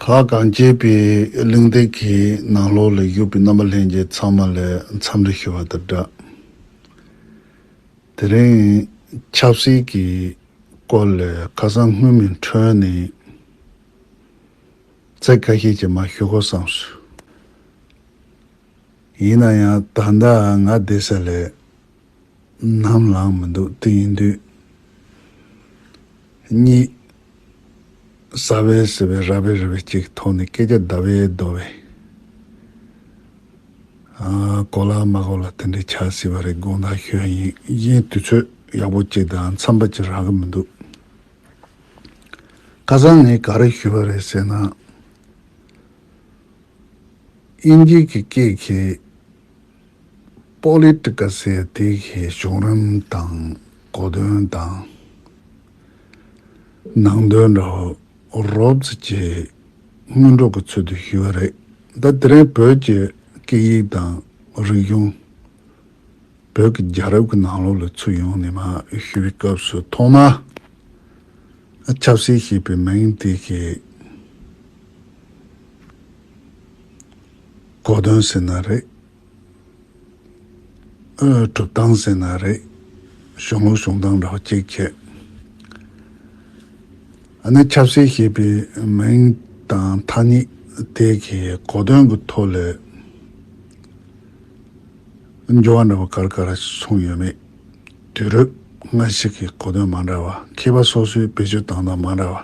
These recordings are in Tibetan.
ལྷ་གངས་སྐྱེས་པའི་གླིང་སྟེང་གི་ནང་ལོགས་ལས་བཞུགས་པའི་རྣམ་པ་ལྷན་རྒྱས་ཚང་མ་ལས་མཚམས་རེ་ཞུ་བ་དང་སྦྲགས། དེ་རིང་ཆབ་སྲིད་ཀྱི་སྐོར་ལས་ཁ་སང་དངོས་མིང་འཁྲོལ་ནས་ཚིག་ཁ་ཤས་ཀྱིས་མ་ཞུ་དགོས་བསམ་སོང། ཡིན་ན་ཡང་ད་ལྟ་ང་བསྡད་ས་ལས་ནམ་ལངས་མི་འདུག་དེ་ཡིན་དུས། གཉིས། ཟ་བའི་ཟེར་བའི་ར་བའི་རི་བའི་གཅིག་གི་ཐོག་ནས་སྐད་ཆ་ཟླ་བའི་རྡོ་བའི། གོ་ལ་མ་གོ་ལ་དེ་འདྲའི་ཆགས་སྲིད་པ་རེད་དགོངས་དག་ཞུ་ཡ་ཡིན། གཞན་དུས་ཚོད་ཡག་པོ་གཅིག་དང་འཚམས་པ་གཅིག་རག་གི་མི་འདུག། ཁ་སང་ངས་ག་རེ་ཞུས་པ་རེད་ཟེར་ན། དབྱིན་ཇིག་གི་སྐད་གིས། Political Safety གི་གཞུང་རིམ་དང་གོ་དོན་དང། ནང་དོན་རོབ་རྫི་བཅས་སྔོན་འགྲོ་གི་ཚུལ་དུ་ཞུས་པ་རེད། ད་དེ་རིང་བོད་ཀྱི་སྐད་ཡིག་དང་རིག་གཞུང། བོད་ཀྱི་རྒྱལ་རབས་ཀྱི་ནང་ལོགས་ལ་ཚུར་ཡོང་ནས་མ་ཞུས་པའི་སྐབས་སུ་ཐོག་མར་ཆབ་སྲིད་ཞེས་པའི་མིང་དེ་གི། གོ་དོན་ཟིན་ན་རེད། གྲུབ་སྟངས་ཟིན་ན་རེད། གཞུང་ལུགས་གཞུང་སྟངས་རོགས་གཅིག་བྱས། ཨ་ནི་ཆབ་སྲིད་ཞེས་པའི་མིང་དང་ཐ་སྙད་དེ་གིས་གོ་དོན་གྱི་ཐོག་ལས་འགྱུར་བ་འདྲ་བོ་གར་གར་སོང་ཡོད་མེད་དུས་རབས་སྔ་ཞིག་གི་གོ་དོན་མ་འདྲ་བ་མཁས་པ་སོ་སོའི་བེད་སྤྱོད་སྟངས་དང་མ་འདྲ་བ།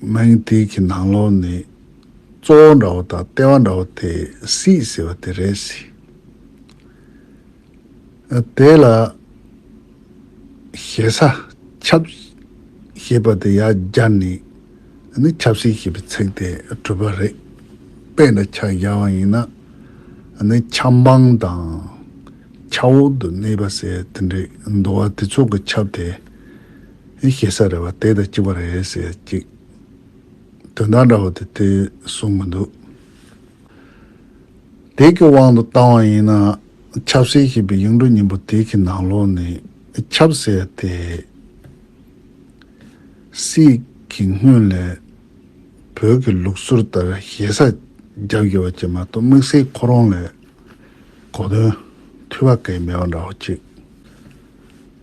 སྨྲེང་ཏིལ་གྱི་ནང་ལོགས་ནི་གཙོ་བོ་འདྲ་བོ་དང་ལྟེ་བ་འདྲ་བོ་དེ་སྲིད་ཟེར་བ་དེ་རེད། དེ་ལ་ཞེ་ས་ཁྱབ་ཞེས་པ་དེ་ཡར་སྦྱར་ནས་ནི་ཁྱབ་སྲིད་ཞེས་པའི་ཚིག་དེ་གྲུབ་པ་རེད། དཔེ་འདྲ་ཆགས་སྦྱར་བ་ཡིན་ན་ནི་ཁྱབ་འབངས་དང་ཁྱབ་འོག་ཏུ་གནས་པ་ཟེར་དེ་འདྲའི་འདུ་བ་དེ་ཚོ་གི་ཁྱབ་དེ་ཨེ་ཤེ་ས་རེད་བ་དེ་དང་གཅིག་པ་རེད་ཟེར་ཅིག། དོན་དག་འདྲ་བོ་དེ་དེ་གསུངས་མི་འདུག། དེ་གི་དབང་དུ་བཏང་བ་ཡིན་ན་ཆབ་སྲིད་ཞེས་པའི་གཡུང་དྲུང་སྙིང་པོ་དེ་གི་ནང་ལོགས་ནས་ཆབ་སྲིད་དེ་སྲིད་ཀྱི་སྔོན་ལས་བོད་ཀྱི་ལུགས་སྲོལ་ལྟར་ཞེ་ས་རྒྱབ་དགོས་པ་ཅིག་མ་གཏོགས་དམིགས་བསལ་ཁོ་རང་ལས་གོ་དོན་ཐུལ་བ་གས་མེད་པ་འདྲ་བོ་ཅིག།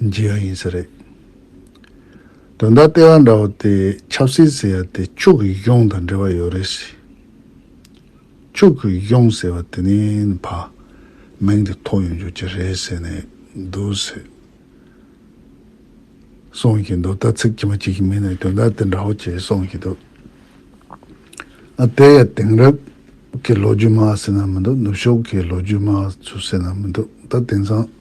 འཇིག་ཡང་ཡིན་ས་རེད། དོན་དག་ལྟེ་བ་འདྲ་བོ་དེ་ཆབ་སྲིད་ཟེར་ཡ་དེ་ཕྱུག་གི་གཡོང་དང་འབྲེལ་བ་ཡོད་རེད་ཟེར། ཕྱུག་གི་གཡོང་ཟེར་བ་དེ་ནི་ཕ། མིང་དེ་ཐོགས་ཡོང་རྒྱུ་གྱི་རེད་ཟེར་ནས་འདུག་ཟེར། གསུངས་ཀྱི་འདུག་ད་ཚིག་ཕྱི་མ་གཅིག་གི་མིང་ནས་དོན་དག་དེ་འདྲ་བོ་བྱས་གསུངས་ཀྱི་འདུག། ཨ་དེ་ཡ་དེང་རབས་ཀྱི་ལོ་རྒྱུས་སྨྲ་ཟེར་ན་མི་འདུག་ནུབ་ཕྱོགས་ཀྱི་ལོ་རྒྱུས་སྨྲ་ཚུལ་ཟེར་ན་མི་འདུག་ད་དེང་སང།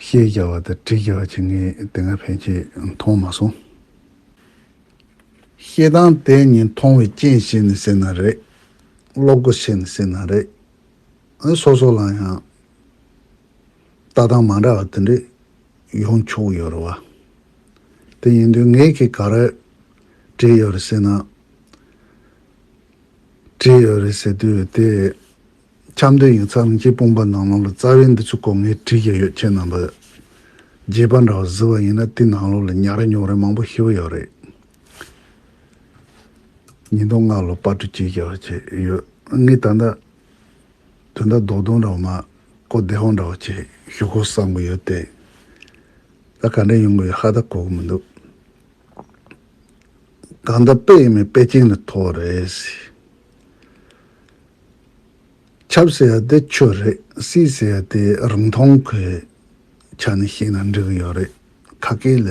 ཤེས་རྒྱ་བ་དང་བྲིས་རྒྱ་བ་བྱེད་མཁན་དེ་སྔ་ཕན་ཆད་མཐོང་མ་སོང། བཤད་སྟངས་དེ་གཉིས་མཐོང་བའི་རྐྱེན་བྱས་ནས་ཟེར་ན་རེད། བློ་སྒོ་ཕྱེ་ནས་ཟེར་ན་རེད། ཨ་སོ་སོ་ལ་ཡང་ལྟ་སྟངས་མ་འདྲ་བ་དེ་འདྲས་ཡོང་ཆོག་ཡོད་རེད་བ། དེ་ཡིན་དུས་ངས་ཁྱེད་ག་རེ་བྲིས་ཡོད་རེད་ཟེར་ན། བྲིས་ཡོད་རེད་ཟེར་དུས་དེ་འཆམ་མཐུན་ཡིག་ཚགས་རིན་ཆེན་སྤུངས་པ་ནང་ལོགས་ལ་རྩ་བའི་འདི་ཚོ་ལྐོག་ངས་བྲིས་ཀྱི་ཡོད་ཁྱེད་རྣམས་པ་རྗེས་པ་འདྲ་བ་བཟི་བ་ཡིན་ན་དེ་ནང་ལོགས་ལ་ཉག་རེ་ཉོག་རེ་མང་པོ་ཤི་བོ་ཡོད་རེད། ཉིས་སྟོང་ལྔ་ལོ་པར་དྲི་བཅས་བྱས་བྱས་ཡོད་ངས་ད་ལྟ་དོན་དག་རྡོག་རྡོག་འདྲ་བ་མ་གོ་བདེ་བ་འདྲ་བ་བྱས་ཞུ་དགོས་བསམ་གི་ཡོད་དེ། ད་ག་འདྲས་ཡོང་གི་ཡོད་ཧ་ད་གོ་གི་མི་འདུག་གང་ལྟར་དཔེ་ཡིན་མིན་དཔེ་ཅན་ལ་ཐོ་བ་རེད། ཁྱབ་ཟེར་ཡ་དེ་ཁྱོད་རེད་སྲིད་ཟེར་ཡ་དེ་རིང་མཐོང་ཁོས་ཆ་ནས་ཤེས་ན་འགྲིག་གི་ཡོད་རེད་ཁ་སྐད་ལ་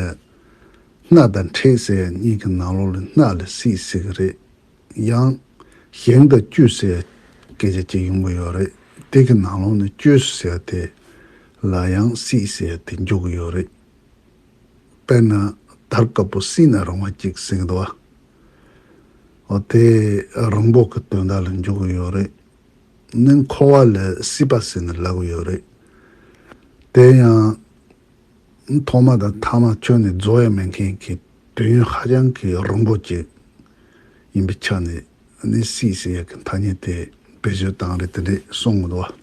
སྣ་དང་འཁྲིད་ཟེར་ཡ་གཉིས་ཀྱི་ནང་ལོགས་ལ་སྣ་ལ་སྲིད་ཟེར་གི་རེད་ཡང། ཞེང་དང་བཅུད་ཟེར་ཡ་སྐད་ཆ་གཅིག་ཡོང་གི་ཡོད་རེད་དེ་གི་ནང་ལོགས་ནས་བཅོས་སུ་ཟེར་ཡ་དེ་ལ་ཡང་སྲིད་ཟེར་ཡ་དེ་འཇུག་གི་ཡོད་རེད། དཔེར་ན་དར་དཀར་པོ་སྲིད་ན་རང་བ་གཅིག་ཟེར་གི་འདུག་བ། འོ་དེ་རང་འབོག་གི་དོན་དག་ལ་འཇུག་གི་ཡོད་རེད། ནི་འཁོར་བ་ལས་སྲིད་པ་ཟེར་ནས་ལབ་གི་ཡོད་རེད། དེ་ཡང། ཐོག་མ་དང་ཐ་མ་ཁྱོད་ནི་རྫོགས་ཡས་མེད་མཁན་གྱི་དུས་ཡུན་ཧ་ཅང་གི་རིང་པོ་ཅིག་ཡིན་པའི་ཆ་ནས་ནི་སྲིད་ཟེར་ཡག་གི་ཐ་སྙད་དེ་བེད་སྤྱོད་སྟངས་རེ་དེ་འདྲས་གསུང་གི་འདུག་བ།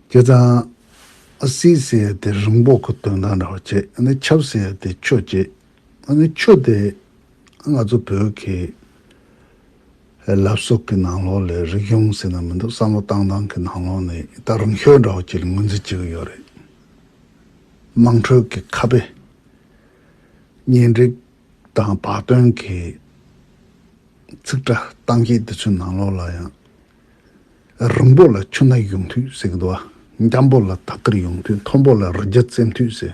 བྱས་ཙང། སྲིད་ཟེར་ཡས་དེ་རང་འབོག་གི་དོན་དག་འདྲ་བ་བྱས་ནི་ཆབ་ཟེར་ཡས་དེ་ཆོས་བྱས། ཨ་ནི་ཁྱོད་དེ་ང་ཚོ་བོད་ཀྱི་ལབ་སོག་གི་ནང་ལོགས་ལས་རིག་གཞུང་ཟེར་ན་མི་འདུག་བསམ་བློ་བཏང་བཏང་གི་ནང་ལོགས་ནས་ད་རང་ཤོད་འདྲ་བོ་ཅིག་ལ་ངོས་འཛིན་བྱེད་ཀྱི་ཡོད་རེད། དམངས་ཁྲོད་ཀྱི་ཁ་དཔེ། གཉེན་སྒྲིག་དང་བག་སྟོན་གྱི་ཚིག་སྒྲ་གཏམ་བཤད་དེ་ཚོའི་ནང་ལོགས་ལ་ཡང། རིང་པོ་ལ་ཆུ་སྣ་ཡོང་དུས་ཟེར་གི་འདུག་ཨ། འཇམ་པོ་ལ་ཐག་ཁིར་ཡོང་དུས་མཐོན་པོ་ལ་རི་རྒྱ་བཙེམ་དུས་ཟེར།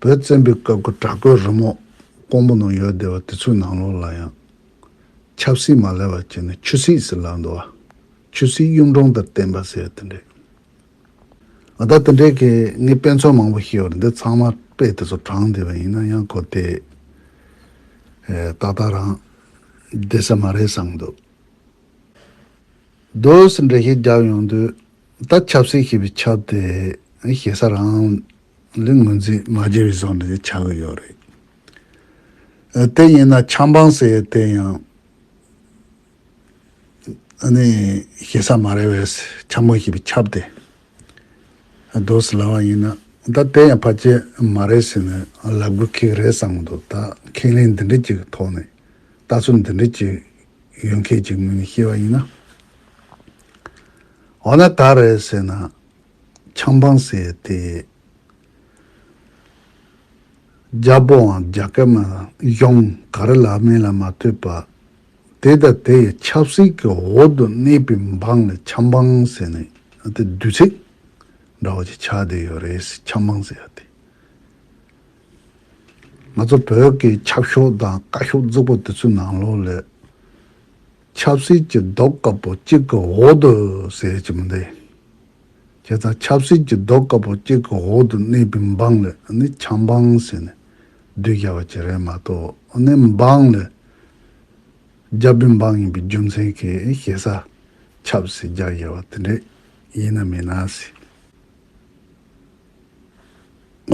བོད་བཙན་པོའི་སྐབས་ཀྱི་བྲག་བརྐོས་རི་མོ་ཀོང་པོ་ནང་ཡོད་བསྡད་པ་དེ་ཚོའི་ནང་ལོགས་ལ་ཡང། ཆབ་སྲིད་མ་ལས་པ་བྱས་ནས་ཆུ་སྲིད་ཟེར་ལབ་འདུག་བ། ཆུ་སྲིད་གཡུང་དྲུང་དང་བསྟན་པ་ཟེར་དེ་འདྲས། ང་ད་དེ་འདྲས་ཀྱི་ངའི་དཔེ་མཚོན་མང་པོ་ཤེས་བར་འདི་ཚང་མ་དཔེ་དེ་ཚོ་དྲངས་བསྡད་པ་ཡིན་ན་ཡང་གོ་དེ། ཏག་ཏག་རང་བསྡད་ས་མ་རེད་བསམ་འདུག། རྡོས་འགྲེལ་བཤད་རྒྱག་ཡོང་དུས་ད་ཆབ་སྲིད་ཞེས་པའི་ཆབ་དེ་ཞེ་ས་རང་ལས་ངོས་འཛིན་མ་བྱས་པའི་བཟང་ནི་ཆགས་ཀྱི་ཡོད་རེད། དེ་ཡིན་ན་ཆབ་འབངས་ཟེར་ཡས་དེ་ཡང་ནི་ཞེ་ས་མ་རེད་བས་ཆབ་མོ་ཞེས་པའི་ཆབ་དེ། རྡོ་སི་ལ་བ་ཡིན་ན་ད་ལྟའི་ཡང་ཕ་སྐྱེས་མ་རེད་ཟེར་ནས་ལབ་དགོས་ཁེག་རེད་བསམ་གི་འདུག་ད་ཁེག་ལེན་འདི་འདྲི་གྱི་ཐོག་ནས་ལྟ་ཚུལ་འདི་འདྲི་གྱི་ཡོད་མཁན་གྱི་ངོས་ནས་ཤེས་པ་ཡིན་ན། འོ་ན་ད་རེད་ཟེར་ན་ཆང་འཕང་ཟེར་དེ་རྒྱ་པོའང་རྒྱ་སྐད་མ་གཞོང་ག་རེ་ལབ་མིན་ལ་མ་ལྟོས་པ་དེ་དང་དེ་ཡི་ཆབ་སྲིད་ཀྱི་འོག་ཏུ་གནས་པའི་འབངས་ལ་ཆབ་འབངས་ཟེར་ནས་དེ་བསྡུས་ཚིག་འདྲ་བ་ཅིག་ཆགས་བསྡད་ཡོད་རེད་ཆབ་འབངས་ཟེར་ཡ་དེ། ང་ཚོ་བོད་ཀྱི་ཆབ་ཤོག་དང་བཀའ་ཤོག་བཙུགས་པ་དེ་ཚོའི་ནང་ལོགས་ལས། ཆབ་སྲིད་ཀྱི་རྡོག་དཀར་པོ་གཅིག་གི་འོག་ཏུ་ཟེར་གྱི་མི་འདུག། ཁྱེད་ཚང་ཆབ་སྲིད་ཀྱི་རྡོ་དཀར་པོ་གཅིག་གི་འོག་ཏུ་གནས་པའི་འབངས་ལ་ནི་ཆབ་འབངས་ཟེར་ནས་བསྡུས་བཞག་པ་ཅི་རེད་མ་གཏོགས་ནི་འབངས་ལ་རྒྱ་བོད་འབངས་ཡིན་པའི་རྒྱུ་མཚན་གྱིས་ཞེ་ས་ཆབ་སྲིད་རྒྱག་བཞིན་པ་དེ་འདྲས་ཡིན་ནམ་མིན་ནམ་ཟེར།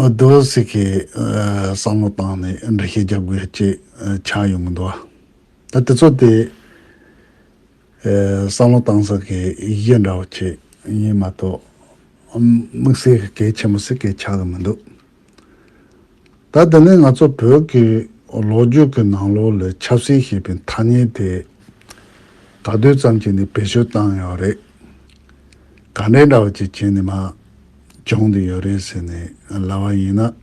རྡོ་སྲིག་གིས་བསམ་བློ་བཏང་ནས་འབྲི་བཤད་རྒྱག་དགོས་ཅེས་ཆགས་ཡོང་གི་འདུག་ད་དེ་ཚོ་དེ་བསམ་བློ་གཏང་ས་གི་ཡི་གེ་འདྲ་བོ་ཁྱེད་གཉིས་མ་གཏོགས་དམིགས་བསལ་གྱི་གལ་ཆེན་པོ་ཟིག་གེ་ཆགས་ཀྱི་མི་འདུག་ད་དེ་ནས་ང་ཚོ་བོད་ཀྱི་ལོ་རྒྱུས་ཀྱི་ནང་ལོགས་ལས་ཆབ་སྲིད་ཞེས་པའི་ཐ་སྙད་དེ་ག་དུས་ཙམ་གྱིས་ནས་བེད་སྤྱོད་བཏང་ཡོད་རེད། ག་འདྲས་འདྲ་བོ་ཅིག་བྱས་ནས་མ་འབྱུང་དུ་ཡོད་རེད་ཟེར་ནས་ལབ་བ་ཡིན་ན།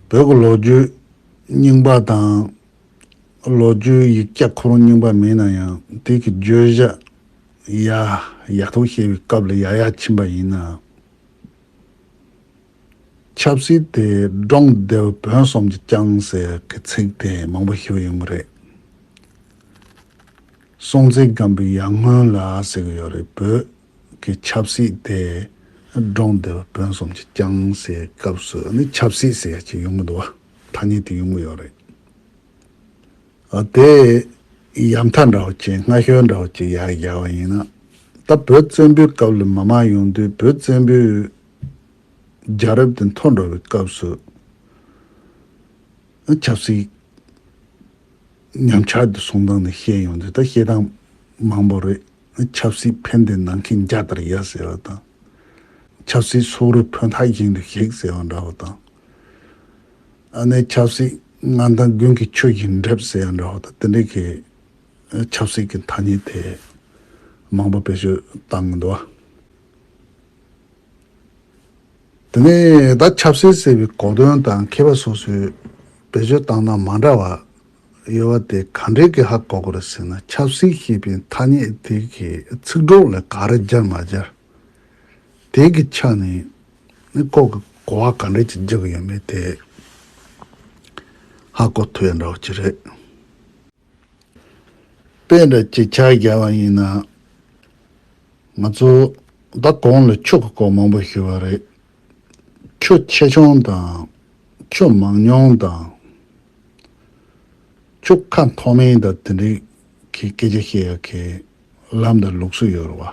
བོད་ཀྱི་ལོ་རྒྱུས་རྙིང་པ་དང། ལོ་རྒྱུས་ཡིག་སྐྱ་ཁོ་རང་རྙིང་པ་མིན་ན་ཡང་དེ་གི་བརྗོད་བྱ་ཡ་ཡག་ཐོག་བཤད་པའི་སྐབས་ལ་ཡ་ཡག་ཕྱིན་པ་ཡིན་ནའང། ཆབ་སྲིད་དེ་སྒྲོག་མདེལ་བོན་གསུམ་གྱི་རྐྱང་ཟེར་གི་ཚིག་དེ་མང་པོ་ཞུ་ཡོང་གི་རེད། སྲོང་བཙན་སྒམ་པོའི་ཡར་སྔོན་ལ་ཟེར་གི་ཡོད་རེད་བོད་ཀྱི་ཆབ་སྲིད་དེ་སྒྲོག་མདེལ་བོན་གསུམ་གྱི་རྐྱང་ཟེར་སྐབས་སུ་ནི་ཆབ་སྲིད་ཟེར་ཡ་གཅིག་ཡོང་གི་འདུག་བ། ཐ་སྙད་དེ་ཡོང་གི་ཡོད་རེད། དེ་ཡ་མཐའ་འདྲ་བོ་ཅན་སྔ་ཤོས་འདྲ་བོ་ཅིག་ཡར་བཞག་པ་ཡིན་ན། ད་བོད་བཙན་པོའི་སྐབས་ལས་མ་མང་ཡོང་དུས་བོད་བཙན་པོའི་རྒྱལ་རབས་དེ་འཐོར་འགྲོ་བའི་སྐབས་སུ། ཆབ་སྲིད་ཉམས་ཆག་གི་གསུང་སྟངས་དེ་བཤད་ཡོང་དུས་ད་བཤད་སྟངས་མང་པོ་རེད། ཆབ་སྲིད་ཕན་བདེ་གནང་མཁན་རྒྱ་དར་ཡ་ཟེར་བ་དང། ཆབ་སྲིད་སོག་རུས་ཕོ་མཐའ་བཞེངས་རི་ཞིག་ཟེར་བ་འདྲ་བོ་དང། ཨ་ནེ་ཆབ་སྲིད་ང་དང་དགུན་གྱི་ཆུ་བཞིན་འགྲིབ་ཟེར་བ་འདྲ་བོ་དང་དེ་འདྲའི་གི་ཆབ་སྲིད་ཀྱི་ཐ་སྙད་དེ་མང་པོ་བེད་སྤྱོད་བཏང་གི་འདུག་དེ་ནས་ད་ཆབ་སྲིད་ཟེར་བའི་གོ་དོན་དང་མཁས་པ་སོ་སོས་བེད་སྤྱོད་བཏང་སྟངས་མ་འདྲ་བ་དབྱེ་བ་དེ་ག་འདྲའི་གེ་ཧ་གོ་དགོས་རེད་ཟེར་ན་ཆབ་སྲིད་ཞེས་པའི་ཐ་སྙད་དེ་གི་ཚིག་གྲོགས་ལ་ག་རེ་སྦྱར་མ་སྦྱར་དེ་གི་ཆ་ནས་ནི་ཁོག་གི་གོ་བ་ག་འདྲའི་ཅིག་རྒྱག་གི་ཡོད་མེད་དེ་ཧ་གོ་ཐུབ་ཡ་འདྲ་བ་ཅིག་རེད། དཔེ་འདྲ་ཅིག་ཆ་རྒྱག་པ་ཡིན་ན། ང་ཚོ་ད་གོང་ལ་ཕྱུག་གི་སྐོར་མང་པོ་ཞུས་པ་རེད། ཁྱོད་ཆེ་ཆུང་དང། ཁྱོད་མང་ཉུང་དང། ཁྱོད་ཁ་མཐོ་མིན་དང་དེ་འདྲའི་གི་སྐད་ཆ་བཤད་ཡག་གི་ལམ་དང་ལུགས་སུ་ཡོད་རེད་བ།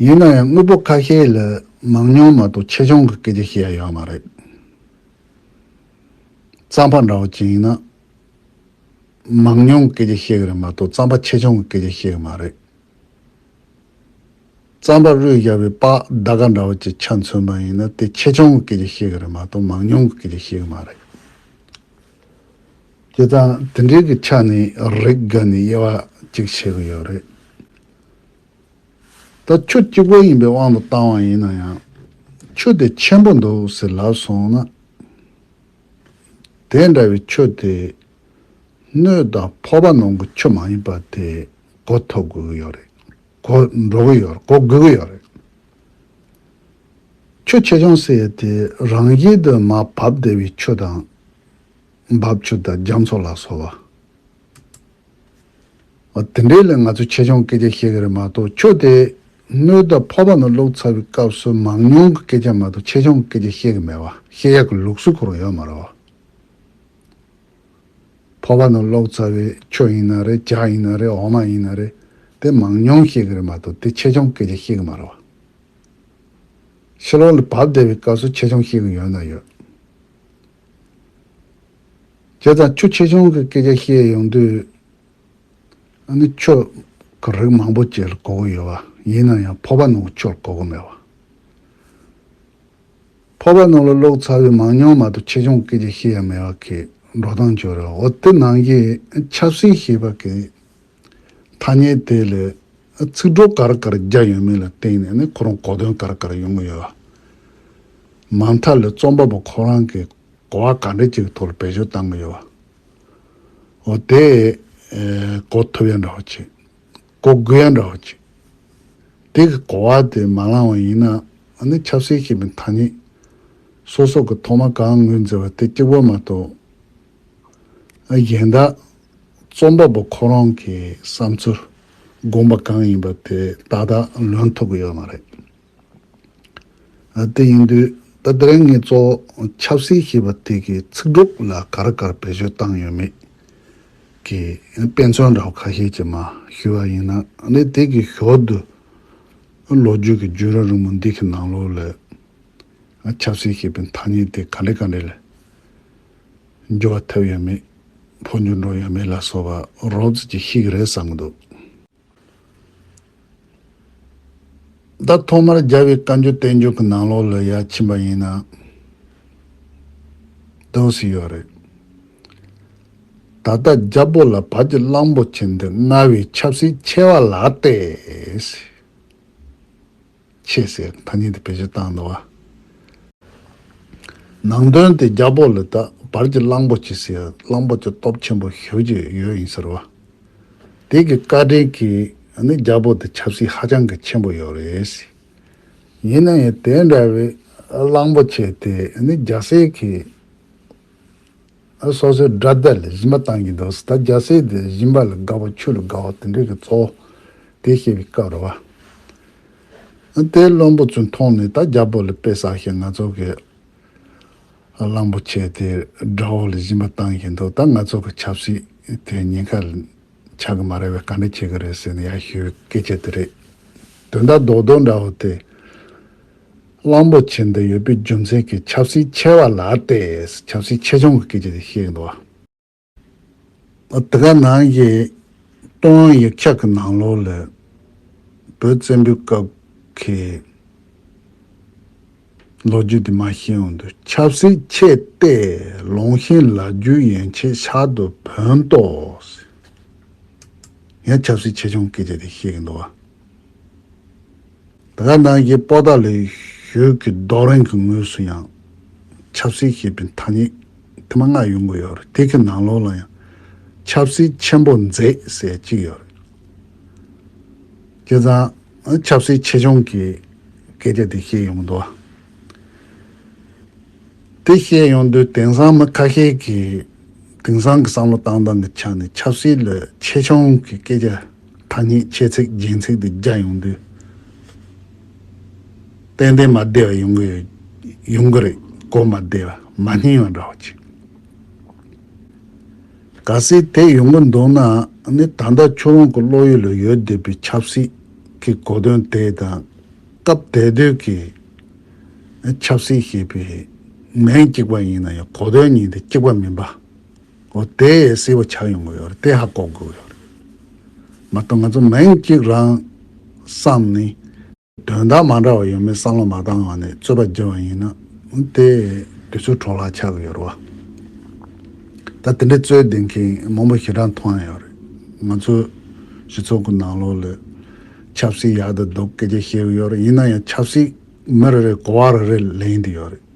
ཡིན་ན་ཡང་དངོས་པོ་ཁ་ཤས་ལ་མང་ཉུང་མ་གཏོགས་ཆེ་ཆུང་གི་སྐད་ཆ་བཤད་ཡག་མ་རེད། རྩམ་པ་འདྲ་བོ་ཅན་ཡིན་ན། མང་ཉུང་གི་སྐད་ཆ་བཤད་གི་རེད་མ་གཏོགས་རྩམ་པ་ཆེ་ཆུང་གི་སྐད་ཆ་བཤད་གི་མ་རེད། རྩམ་པ་རུས་བཞག་པའི་པགས་རྡ་ག་འདྲ་བོ་ཅིག་ཆ་མཚོན་པ་ཡིན་ན་དེ་ཆེ་ཆུང་གི་ཀྱི་ཤེས་གི་རེད་མ་གཏོགས་མང་ཉུང་གི་ཀྱི་ཀྱི་ཤེས་གི་མ་རེད། དེ་དང་དེ་འདྲའི་ཀྱི་ཆ་ནས་རེག་ག་ནས་དབྱེ་བ་ཅིག་བྱེད་གི་ཡོད་རེད། ད་ཆུ་གཅིག་པོ་ཡིན་པའི་དབང་དུ་བཏང་བ་ཡིན་ན་ཡང་ཆུ་དེ་ཆེན་པོ་འདུག་ཟེར་ལབ་སོང་ན། དེ་འདྲ་བའི་ཆུ་དེ་སྣོད་དང་ཕོ་བ་ནང་གི་ཆུ་མ་ཡིན་པ་དེ་གོ་ཐུབ་གི་ཡོད་རེད། གོ་འགྲོ་གི་ཡོད་རེད་གོ་དགོས་ཀྱི་ཡོད་རེད། ཁྱོད་ཆེད་སྦྱོང་བསད་དེ་རང་དབྱེ་དུ་མ་བབས་བདེ་བའི་ཆུ་དང། འབབ་ཆུ་དང་རྒྱ་མཚོ་ལ་སོགས་པ། འོ་དེ་འདྲའི་ལས་ང་ཚོས་ཆེད་སྦྱོང་སྐད་ཆ་ཤེས་ཀྱི་རེད་མ་གཏོགས་ཁྱོད་དེ་སྔོན་དང་ཕོ་བ་ནས་སློབ་ཚར་བའི་སྐབས་སུ་མང་ཉུང་གི་སྐད་ཆ་མ་གཏོགས་ཆེད་སྦྱོང་སྐད་ཆ་ཤེས་ཀྱི་མེད་པ་ཤེས་ཡག་གི་ལུགས་སྲོལ་གོ་རེ་ཡོད་མ་རེད་བ། ཕོར་པ་ནི་ལོག་རྩ་བའི་ཆུ་ཡིན་ན་རེད་ལྕགས་ཡིན་ན་རེད་འོ་མ་ཡིན་ན་རེད་དེ་མང་ཉུང་བཤད་གི་རེད་མ་གཏོགས་དེ་ཆེ་ཆུང་སྐད་ཆ་བཤད་གི་མ་རེད་བ། ཕྱི་ལོག་ལ་བབས་བསྡད་པའི་སྐབས་སུ་ཆེ་ཆུང་བཤད་གི་ཡོད་ན་ཡོད། བྱས་ཙང་ཆུ་ཆེ་ཆུང་གི་སྐད་ཆ་བཤད་ཡོང་དུས་ཨ་ནི་ཆུ་གི་རིགས་མང་པོ་བཅས་ལ་གོ་གི་ཡོད་བ་ཡིན་ན་ཡང་ཕོར་པ་ནང་གི་ཆུ་ལ་གོ་གི་མེད་བ། ཕོར་པ་ནང་ལ་ལོག་ཚར་བའི་མང་ཉུང་མ་གཏོགས་ཆེ་ཆུང་སྐད་ཆ་ཤེས་ཡ་མེད་བ་ཁེ་འགྲོ་སྟངས་བྱུ་རུ་འོ་དེ་ནང་གི་ཆབ་སྲིད་ཞེས་པ་གི་ཐ་སྙད་དེ་ལས་ཚིག་གྲོགས་ག་རེ་ག་རེ་རྒྱག་ཡོད་མེད་ལ་བལྟས་ནས་ནི་ཁོ་རང་གོ་དོན་ག་རེ་ག་རེ་ཡོང་གི་ཡོད་བ་མ་མཐའ་ལས་རྩོམ་པ་པོ་ཁོ་རང་གིས་གོ་བ་ག་འདྲ་ཅིག་གི་ཐོག་ལ་བེད་སྤྱོད་བཏང་གི་ཡོད་བ་འོ་དེས་གོ་ཐུབ་ཡ་འདྲ་བ་བྱེད། གོ་དགོས་ཡ་འདྲ་བ་གཅིག། དེ་གི་གོ་བ་དེ་མ་བླངས་བ་ཡིན་ན་ནི་ཆབ་སྲིད་ཀྱི་མི་ཐ་སྙད་སོ་སོགས་ཀྱི་ཐོག་མ་གང་ངོས་འཛིན་བ་དེ་གཅིག་པོ་མ་གཏོགས། གཞན་དག་རྩོམ་པ་པོ་ཁོ་རང་གི་བསམ་ཚུལ་དགོངས་པ་གང་ཡིན་པ་དེ་ཏག་ཏག་ལོན་ཐུབ་ཀྱི་ཡོད་མ་རེད། དེ་ཡིན་དུས་ད་དེ་རིང་ངས་གཙོ་བོ་ཆབ་སྲིད་ཞེས་པ་དེ་གའི་ཚིག་གྲོགས་ལ་ག་རེ་གར་བེད་སྤྱོད་བཏང་ཡོད་མེད་ཀྱི་དཔེ་མཚོན་འདྲ་བོ་ཁ་ཤས་ཀྱིས་མ་ཞུས་པ་ཡིན་ན་ནི་དེ་གའི་ཞོར་དུ་ལོ་རྒྱུས་ཀྱི་རྒྱུན་རིང་རིང་མོ་འདི་གའི་ནང་ལོགས་ལས་ཆབ་སྲིད་ཞེས་པའི་ཐ་སྙད་དེ་ག་འདྲའི་ག་འདྲའི་ལས་འགྱུར་བ་ཐེབས་ཡོད་མེད་ཕོ་འགྱུར་འགྲོ་ཡོད་མེད་ལ་སོགས་པ་རོབ་ཙིས་ཀྱིས་ཤེས་ཀྱི་རེད་བསམ་གྱི་འདུག། ད་ཐོག་མར་རྒྱལ་བའི་བཀའ་འགྱུར་བསྟན་འགྱུར་གྱི་ནང་ལོགས་ལ་ཡ་ཕྱིན་པ་ཡིན་ན་འདོད་སྲིད་ཡོད་རེད། ད་ལྟ་རྒྱ་བོད་ལ་བར་གྱི་གླང་པོ་ཆེ་འདི་མངའ་བའི་ཆབ་སྲིད་ཆེ་བ་ལགས་ཏེ། ཆེས་ཟད་ཐ་སྙད་དེ་བེད་སྤྱོད་བཏང་འདུག་བ། ནང་དོན་དེ་རྒྱ་པོ་ལས་ད་བར་གྱི་གླང་པོ་ཆེ་སེར་གླང་པོ་ཆེ་སྟོབས་ཆེན་པོ་ཞུ་རྒྱུ་ཡོད་ཡིན་ཟེར་བ། དེ་གི་བཀའ་དྲིན་གྱིས་ནི་རྒྱ་པོ་དེ་ཆབ་སྲིད་ཧ་ཅང་གི་ཆེན་པོ་ཡོད་རེད། ཡིན་ན་ཡང་དེ་འདྲ་བའི་གླང་པོ་ཆེ་དེ་ནི་རྒྱ་སེར་གྱི། སོ་སོའི་དགྲ་སྡེ་ལ་སྦྱིན་པ་གཏང་གིན་འདུག་ཟླ་བརྒྱ་ཟས་དེ་སྦྱིན་པ་ལ་དགའ་བ་ཆོས་ལ་དགའ་བ་དེ་འདྲས་ཀྱི་གཙོ་བོ་དེ་ཤེས་པའི་སྐབས་རེ་བ། དེ་བློན་པོ་ཚོས་མཐོང་ནས་ད་རྒྱ་བོད་ལ་དཔེ་བསགས་ཤིང་ང་ཚོ་གི་གླང་པོ་ཆེ་དེ་དགྲ་བོ་ལ་སྦྱིན་པ་གཏང་གིན་འདུག་ད་ང་ཚོ་གི་ཆབ་སྲིད་དེ་ཉེན་ཁ་ལ་ཆགས་ཀྱི་མ་རེད་བས་ག་འདྲ་བྱེད་ཀྱི་རེད་ཟེར་ནས་ཡར་ཞུས་པའི་སྐད་ཆ་དེ་རེད། དོན་དག་རྡོག་རྡོག་འདྲ་བོ་དེ་གླང་པོ་ཆེ་འདི་ཡོད་པའི་རྒྱུ་མཚན་གྱིས་ཆབ་སྲིད་ཆེ་བ་ལ་ལྟས་ཆབ་སྲིད་ཆེ་ཆུང་གི་སྐད་ཆ་དེ་བཤད་ཀྱི་འདུག་བ། དེ་ག་ནང་གི་ཀྲུང་དབྱང་ཡིག་ཆ་གི་ནང་ལོགས་ལས་བོད་བཙན་པོའི་སྐབས་ཀྱི་ལོ་རྒྱུས་དེ་མ་ཤེས་འོང་དུས་ཆབ་སྲིད་ཆེ་ལྟས་ལོང་ཤིང་ལ་རྒྱུས་ཡན་ཆད་ཤར་དུ་བུན་ཏོག་ཡང་ཆབ་སྲིད་ཆེ་ཆུང་གི་སྐད་ཆ་དེ་བཤད་ཀྱི་འདུག་བ། དེ་ག་ནང་གི་པོ་ཏཱ་ལའི་ཞོལ་གྱི་རྡོ་རིང་གི་ངོས་སུ་ཡང་ཆབ་སྲིད་ཞེས་པའི་ཐ་སྙད་དེ་མ་སྔར་ཡོང་གི་ཡོད་རེད་དེ་གི་ནང་ལོགས་ལ་ཡང་ཆབ་སྲིད་ཆེན་པོ་མཛད་ཟེར་གཅིག་ཡོད་རེད། ཁྱེད་ཚང་ཆབ་སྲིད་ཆེ་ཆུང་གི་སྐད་ཆ་དེ་བཤད་ཡོང་འདུག་དེ་བཤད་ཡོང་དུས་དེང་སང་མི་ཁ་ཤས་ཀྱིས་དེང་སང་གི་བསམ་བློ་བཏང་སྟངས་ཀྱི་ཆ་ནས་ཆབ་སྲིད་ལས་ཆེ་ཆུང་གི་སྐད་ཆ་ཐ་སྙད་ཁྱད་ཚིག་རྒྱན་ཚིག་དུ་རྒྱ་ཡོང་དུས། ཏན་ཏན་མ་བདེ་བ་ཡོང་གི་ཡོད། ཡོང་གི་རེད། གོ་མ་བདེ་བ་མ་སྙིང་བ་འདྲ་བོ་གཅིག། ག་སྲིད་དེ་ཡོང་གི་འདུག་ན་ནི་ད་ལྟ་ཁྱོད་རང་གི་བློ་ཡུལ་ལ་ཡོད་བསྡད་པའི་ཆབ་སྲིད་ཀྱི་གོ་དོན་དེ་དང། སྐབས་དེ་དུས་ཀྱི་ཆབ་སྲིད་ཞེས་པའི་མིང་གཅིག་པ་ཡིན་ན་ཡང་གོ་དོན་གཉིས་དེ་གཅིག་པ་མིན་པ། ཨོ་དེ་སེ་བ་ཆགས་ཡོང་གི་ཡོད་རེད་དེ་ཧ་གོ་དགོས་ཡོད་རེད། མ་གཏོགས་ང་ཚོ་མིང་གཅིག་རང་བསམ་ནས། དོན་དག་མ་འདྲ་བ་ཡོད་མེད་བསམ་བློ་མ་བཏང་བ་ནས་རྩོད་པ་བགྱི་བ་ཡིན་ན། དེ་དུས་ཚོད་འཕྲོ་བརླག་ཆགས་གི་ཡོད་རེད་བ། ད་དེ་འདྲའི་རྩོད་ལྡན་མཁན་མང་པོ་ཞེ་དྲག་མཐོང་ཡོད་རེད། ང་ཚོའི་སྤྱི་ཚོགས་ཀྱི་ནང་ལོགས་ལས། ཆབ་སྲིད་ཡག་དུ་འདུག་སྐད་ཆ་བཤད་གི་ཡོད་རེད་ཡིན་ན་ཡང་ཆབ་སྲིད་མི་རེ་རེ་གོ་བ་རེ་རེ་ལེན་དུ་ཡོད་རེད།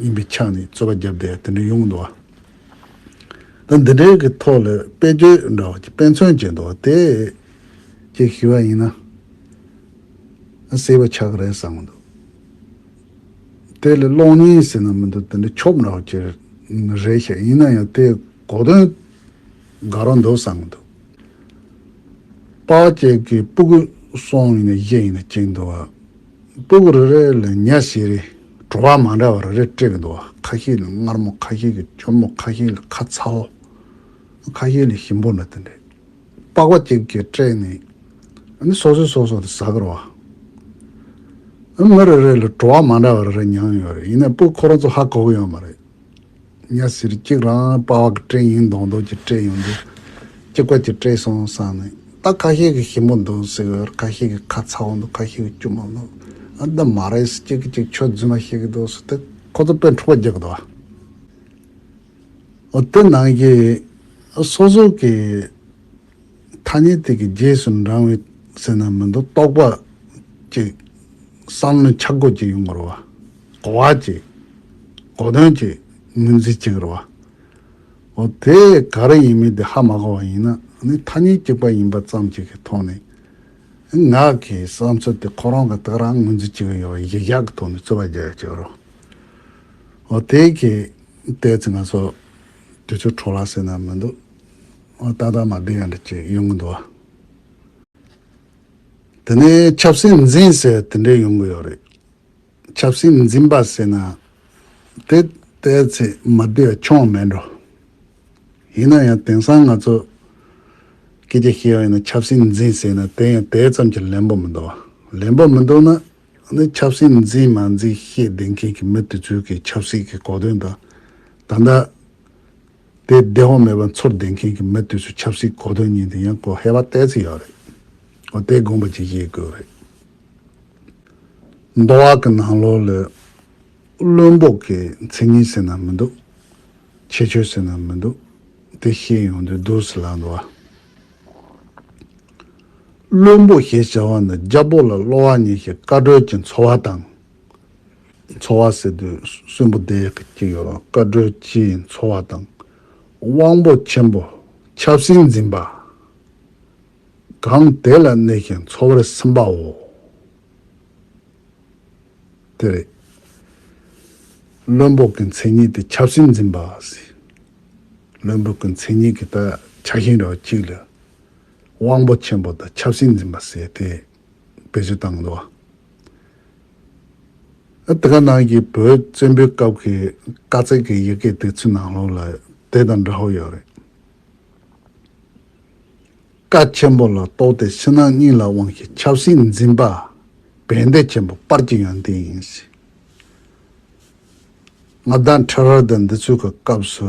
ཡིན་པའི་ཆ་ནས་རྩོད་པ་བརྒྱབ་སྟེ་དེ་འདྲ་ཡོང་འདུག་བ་དང། འདི་འདྲའི་གི་ཐོག་ལ་དཔེ་བརྗོད་འདྲ་བ་ཀྱི་དཔེ་མཚོན་བྱེད་འདུག་བ་དེ། ཅེས་ཞུས་པ་ཡིན། ཨ་སེ་བ་ཆགས་རེད་བསམ་འདུག་དེ་ལས་གློག་བརྙན་ཟེར་ན་མི་འདུག་དེ་འདྲ་ཆོབ་འདྲ་བ་ཀྱི་རེད་ཤག་ཡིན་ན་ཡང་དེ་གོ་དོན་དགའ་རོགས་འདུག་བསམ་འདུག་དཔའ་བོ་ཅེས་ཀྱི་སྤུ་གུ་སོང་ཡིན་ན་གཞས་ཡིན་ན་བཅིངས་འདུག་བ། སྤུག་རེ་རེ་ལ་ཉྭ་བཞི་རེ་བྲོ་བ་མ་འདྲ་བ་རེ་རེ་སྤྲད་གི་འདུག་ཁ་ཤས་ལ་མངར་མོ་ཁ་ཤས་ཀྱི་གཅུང་མོ་ཁ་ཤས་ལ་ཁ་ཚའོ་ཁ་ཤས་ལ་ཞིམ་པོ་འདྲ་དེ་འདྲས་པགས་པ་གཅིག་གཅིག་སྤྲད་ནས་ནི་སོ་སོས་སོ་སོ་དང་ཟ་གི་རོགས། མི་རེ་རེ་ལ་བྲོ་བ་མ་འདྲ་བ་རེ་རེ་མྱངས་ཡོད་རེད་ཡིན་ནའི་སྤུག་ཁོ་རང་ཚོ་ཧ་གོ་གི་ཡོད་མ་རེད། གཉའ་ཟིར་གཅིག་རང་དཔའ་བ་གི་སྤྲེལ་ཡིན་མདོག་མདོག་གི་སྤྲེལ་ཡོང་རྒྱུ། སྐྱིད་ཀ་གྱི་སྤྲེལ་སོང་བསམ་ནས་ད་ཁ་ཤས་ཀྱི་ཞིམ་པོ་འདུག་ཟེར་བར་ཁ་ཤས་ཀྱི་ཁ་ཚ་བོ་འདུག་ཁ་ཤས་ཀྱི་སྐྱུར་མོ་འདུག་ཨ་འདི་མ་རེད་ཟེར་གཅིག་གིས་གཅིག་ཆོས་རྫུན་མ་བཤད་ཀྱི་འདུག་ཟེར་ཏེ་ཁོ་ཚོ་དཔེ་འཁྲུག་པ་རྒྱག་གི་འདུག་ཨ་འོ་དེ་ནང་གི་སོ་སོ་གི་ཐ་སྙད་དེ་གི་རྗེས་སུ་འབྲང་བའི་ཟེར་ན་མི་འདུག་རྟོག་པ་ཅིག། བསམ་བློའི་འཆར་སྒོ་ཅིག་ཡོང་གི་རུ་བ། གོ་བ་ཅིག། གོ་དོན་ཅིག་ངོས་འཛིན་བྱེད་ཀྱི་རུ་བ། འོ་དེ་ག་རེ་ཡིན་མིན་དེ་ཧ་མ་གོ་བ་ཡིན་ན་ནི་ཐ་སྙད་གཅིག་པ་ཡིན་པ་ཙམ་ཅིག་གི་ཐོག་ནས། ངག་གི་བསམ་ཚུལ་དེ་ཁོ་རང་གི་ཐག་རང་ངོས་འཛིན་བྱེད་ཀྱི་ཡོད་པ་གཞི་བཞག་གི་ཐོག་ནས་རྩོད་པ་རྒྱག་ཡག་ཅིག་རུ། འོ་དེ་གི་ལྟས་ཚེ་ང་ཚོ་དུས་ཚོད་འཕྲོག་ལ་ཟེར་ན་མི་འདུག། ཨོ་ཏག་ཏག་མ་སྦས་ཡོང་དྲི་ཅིག་ཡོང་གི་འདུག་བ། དེ་ནས་ཆབ་སྲིད་འཛིན་ཟེར་དེ་འདྲས་ཡོང་གི་ཡོད་རེད། ཆབ་སྲིད་འཛིན་པ་ཟེར་ན་དེ་ལྟའི་ཚད་མ་འདི་ཡང་ཆོངས་མེད་འགྲོ། ཡིན་ན་ཡང་དེང་སང་ང་ཚོ་སྐད་ཆ་བཤད་ཡོང་ཡིན་ན་ཆབ་སྲིད་འཛིན་ཟེར་ན་དེ་ཡང་དེ་ཙམ་གྱི་ལན་པོ་མི་འདུག་བ། ལན་པོ་མི་འདུག་ན་ནི་ཆབ་སྲིད་འཛིན་མ་འཛིན་ཤེས་ལྡན་མཁན་གྱི་མི་དེ་ཚོའི་གི་ཆབ་སྲིད་ཀྱི་གོ་དོན་དང་ད་ལྟ། དེ་བདེ་བ་མེད་པར་འཚོར་བསྡད་མཁན་གྱི་མི་དུས་སུ་ཆབ་སྲིད་གོ་དོན་ཉིན་དེ་ཡང་གོ་ཧེ་བ་ལྟས་ཚིག་ཡག་རེད། ཨོ་དེ་དགོངས་པ་ཇི་བཞེས་དགོས་རེད། མདོ་བ་གི་ནང་ལོགས་ལས། བློན་པོ་གི་མཚན་ཉིད་ཟེར་ན་མི་འདུག། ཁྱད་ཆོས་ཟེར་ན་མི་འདུག། དེ་ཤེས་ཡོང་དུས་སྡུག་སི་ལ་འདུག་ཨ། བློན་པོ་ཞེས་བྱ་བ་འདི་རྒྱ་པོ་ལ་གློ་བ་ཉེ་ཞིང་བཀའ་གྲོས་ཀྱི་འཚོ་བ་དང་འཚོ་བ་ཟེར་དུས་གསོན་པོ་བསྡད་ཀྱི་ཡོད་རུང་བཀའ་བགྲོས་སྤྱིའི་འཚོ་བ་དང་དབང་པོ་ཆེན་པོ་ཆབ་སྲིད་འཛིན་པ་གང་དེ་ལ་གནས་ཤིང་འཚོ་བར་སེམས་པའོ། དེ་རེད། བློན་པོ་གི་མཚན་ཉིད་དེ་ཆབ་སྲིད་འཛིན་པ། བློན་པོ་གི་མཚན་ཉིད་ཀྱི་ད་ཆ་ཤིང་རོ་གཅིག་ལ་དབང་པོ་ཆེན་པོ་དང་ཆབ་སྲིད་འཛིན་པ་ཟེར་ཏེ། བེད་སྤྱོད་བཏང་འདུག་ཨ་ཏི་ཀ་ནང་གི་བོད་བཙན་པོའི་སྐབས་ཀྱི་བཀའ་བརྩེགས་ཀྱི་ཡི་གེ་དེ་ཚོའི་ནང་ལོགས་ལ་དེ་དང་འདྲ་བོ་ཡོད་རེད། བཀའ་ཆེན་པོ་ལ་གཏོགས་ཏེ་ཕྱི་ནང་གཉིས་ལ་དབང་གི་ཆབ་སྲིད་འཛིན་པ་བན་དེ་ཆེན་པོ་པར་གྱི་ཡང་དེ་ཡིན་སྲིད། ང་དང་ཁྲི་རལ་དང་འདི་ཚོའི་གི་སྐབས་སུ་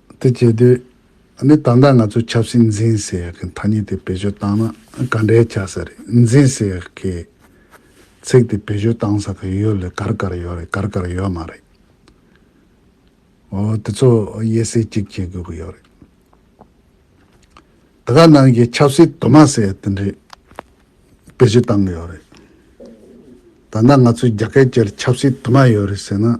དེ་བྱེད་དུས་ནི་ད་ལྟ་ང་ཚོས་ཆབ་སྲིད་འཛིན་ཟེར་ཡག་གི་ཐ་སྙད་དེ་བེད་སྤྱོད་བཏང་ན་ག་འདྲའི་ཆ་ས་རེད་འཛིན་ཟེར་ཡག་གི་ཚིག་དེ་བེད་སྤྱོད་བཏང་ས་ག་ཡོད་ལས་གར་གར་ཡོད་རེད་གར་གར་ཡོད་མ་རེད། འོ་དེ་ཚོ་དབྱེ་གསེས་གཅིག་བྱེད་དགོས་ཀྱི་ཡོད་རེད། ད་ག་ནང་གི་ཆབ་སྲིད་དུ་མ་ཟེར་ཡག་དེ་འདྲས་བེད་སྤྱོད་བཏང་གི་ཡོད་རེད། ད་ལྟ་ང་ཚོའི་རྒྱ་སྐད་སྤྱིར་ཆབ་སྲིད་དུ་མ་ཡོད་རེད་ཟེར་ན་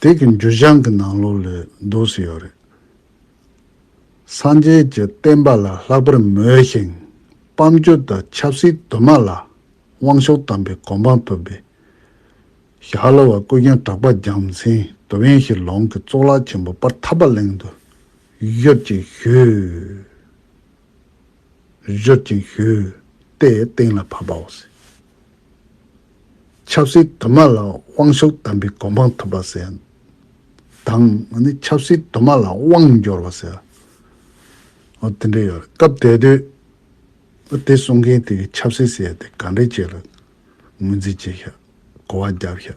དེ་གི་འགྱུར་བྱང་གི་ནང་ལོགས་ལས་འདུག་སུ་ཡོད་རེད། སངས་རྒྱས་ཀྱི་བསྟན་པ་ལ་ལྷག་པར་མོས་ཤིང་སྤམ་བསྒྱུར་དང་ཆབ་སྲིད་དུ་མ་ལ་དབང་ཤུགས་དམ་པའི་གོ་འཕང་ཐོབ་པའི། ཞྭ་གློ་བ་ཀུན་ཀྱང་གྲགས་པ་རྒྱང་མཚན་དུ་བེང་ཞིག་ལོང་གི་གཙུག་ལག་ཆེན་པོ་པར་ཐབ་པ་གླིང་དུ་བཞུར་ཅིང་བཞུར། བཞུར་ཅིང་བཞུར་ཏེ་སྟེང་ལ་བབས་པའོ། ཆབ་སྲིད་དུ་མ་ལ་དབང་ཤུགས་ལྡན་པའི་གོ་འཕང་ཐོབ་པ་ཟེར། དང། ཆབ་སྲིད་དུ་མ་ལ་དབང་འབྱོར་བ་ཟེར། དེ་འདྲ་ཡོད། སྐབས་དེ་དུས། དེ་གསུང་མཁན་དེ་གིས་ཆབ་སྲིད་ཟེར་ཏེ་ག་འདྲའི་ཆེད་ལ་ངོས་འཛིན་བྱས་ཤག། གོ་བ་བརྒྱབ་ཤག།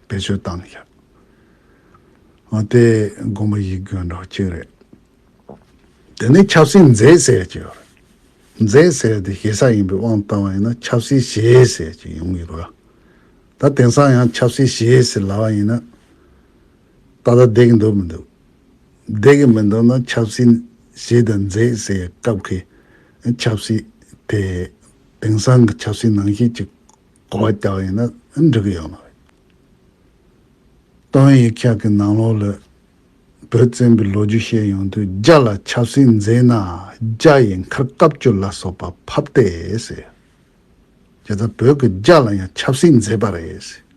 བེད་སྤྱོད་བཏང་ཤག། དེ་དགོངས་པ་ཡིད་སྐྱོ་འདྲ་བ་གཅིག་རེད། དེ་ནས་ཆབ་སྲིད་མཛེས་ཟས་ཀྱི་ཡོད་རེད། མཛེས་ཟས་དེ་ཞེ་ས་ཡིན་པའི་དབང་བཏང་བ་ཡིན་ན་ཆབ་སྲིད་ཞེ་ཟས་ཀྱི་ཡོང་གི་རེད། ད་དེང་སང་ཡང་ཆབ་སྲིད་ཞེ་ཟས་ལ་བ་ཡིན་ན། ད་ལྟ་བསྡད་ཀྱི་འདུག་མི་འདུག། བསྡད་ཀྱི་མི་འདུག་ན་ཆབ་སྲིད་ཞེ་དང་མཛེས་ཟས་སྐབས་ཀྱི་ཆབ་སྲིད་དེ་དེང་སང་གི་ཆབ་སྲིད་ནང་བཞིན་གྱི་གོ་བ་རྒྱག་བ་ཡིན་ན་འགྲིག་གི་ཡོད་མ་རེད། དོན་ཡིག་ཁག་གི་ནང་ལོགས་ལ། བོད་བཙན་པོའི་ལོ་རྒྱུས་བཤད་ཡོང་དུས་རྒྱ་ལ་ཆབ་སྲིད་མཛད་ན་རྒྱ་ཡི་མཁར་བཀབ་བསྐྱུར་ལ་སོགས་པ་ཕབ་སྟེ་ཟེར། རྒྱ་བཟའ་བོད་ཀྱི་རྒྱ་ལ་ཡང་ཆབ་སྲིད་མཛད་པ་རེད་ཟེར།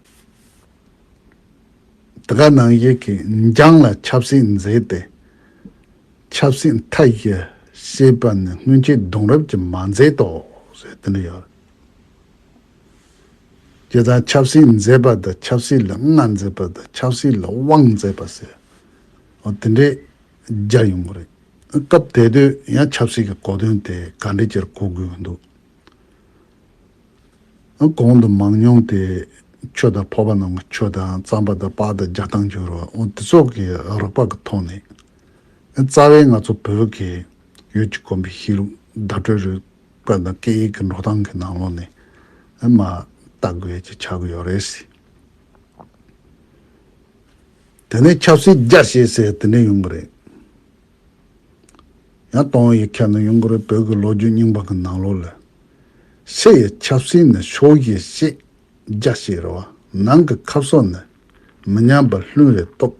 འདི་ག་ནང་བཞིན་གྱི་འཇང་ལ་ཆབ་སྲིད་མཛད་དེ། ཆབ་སྲིད་མཐའ་བཞི་ཞེས་པ་ནི་སྔོན་ཆད་གདུང་རབས་ཀྱིས་མ་མཛད་དོ་ཟེར་དེ་འདྲ་ཡོད་རེད། སྐྱེ་དང་ཆབ་སྲིད་མཛེས་པ་དང་ཆབ་སྲིད་ལ་མངའ་མཛེས་པ་དང་ཆབ་སྲིད་ལ་དབང་མཛེས་པ་ཟེར་བ་དེ་འདྲས་སྦྱར་ཡོང་གི་རེད། སྐབས་དེ་དུས་ཡང་ཆབ་སྲིད་ཀྱི་གོ་དོན་དེ་ག་འདྲས་ཀྱིར་གོ་དགོས་ཀྱི་འདུག་གོང་དུ་མང་མྱོང་དེ་ཆོས་དང་ཕོ་བ་རྣམས་ཀྱི་ཆོས་དང་རྩམ་པ་དང་པགས་དང་རྒྱ་དང་འགྱུར་བ་དེ་ཚོགས་ཀྱི་རགས་པ་གི་ཐོག་ནས་རྩ་བའི་ང་ཚོ་བོད་ཀྱི་ཡུལ་གྱི་དགོན་པའི་གཤིས་ལུགས་བརྡ་སྤྲོད་རུལ་བཀོད་པའི་སྐད་ཡིག་གི་འགྲོ་སྟངས་ཀྱི་ནང་ལོགས་ནས་མ་ལྟ་དགོས་ཀྱི་ཆགས་ཀྱི་ཡོད་རེད་ཟེར། དེ་ནས་ཆབ་སྲིད་བརྒྱ་བཤད་ཟེར་དེ་འདྲས་ཡོང་གི་རེད། ཡང་སྟོང་ཡིག་ཁྱེར་ནས་ཡོང་གི་རེད་བོད་ཀྱི་ལོ་རྒྱུས་རྙིང་པ་གི་ནང་ལོགས་ལ། ཕྱི་ཡི་ཆབ་སྲིད་ནི་ཕྱོགས་བཞི་བཤད་བརྒྱ་བཤད་རེད་བ་ནང་གི་ཁབ་སོགས་ནི་མི་ཉམས་པར་ལྷུན་རེ་རྟོགས།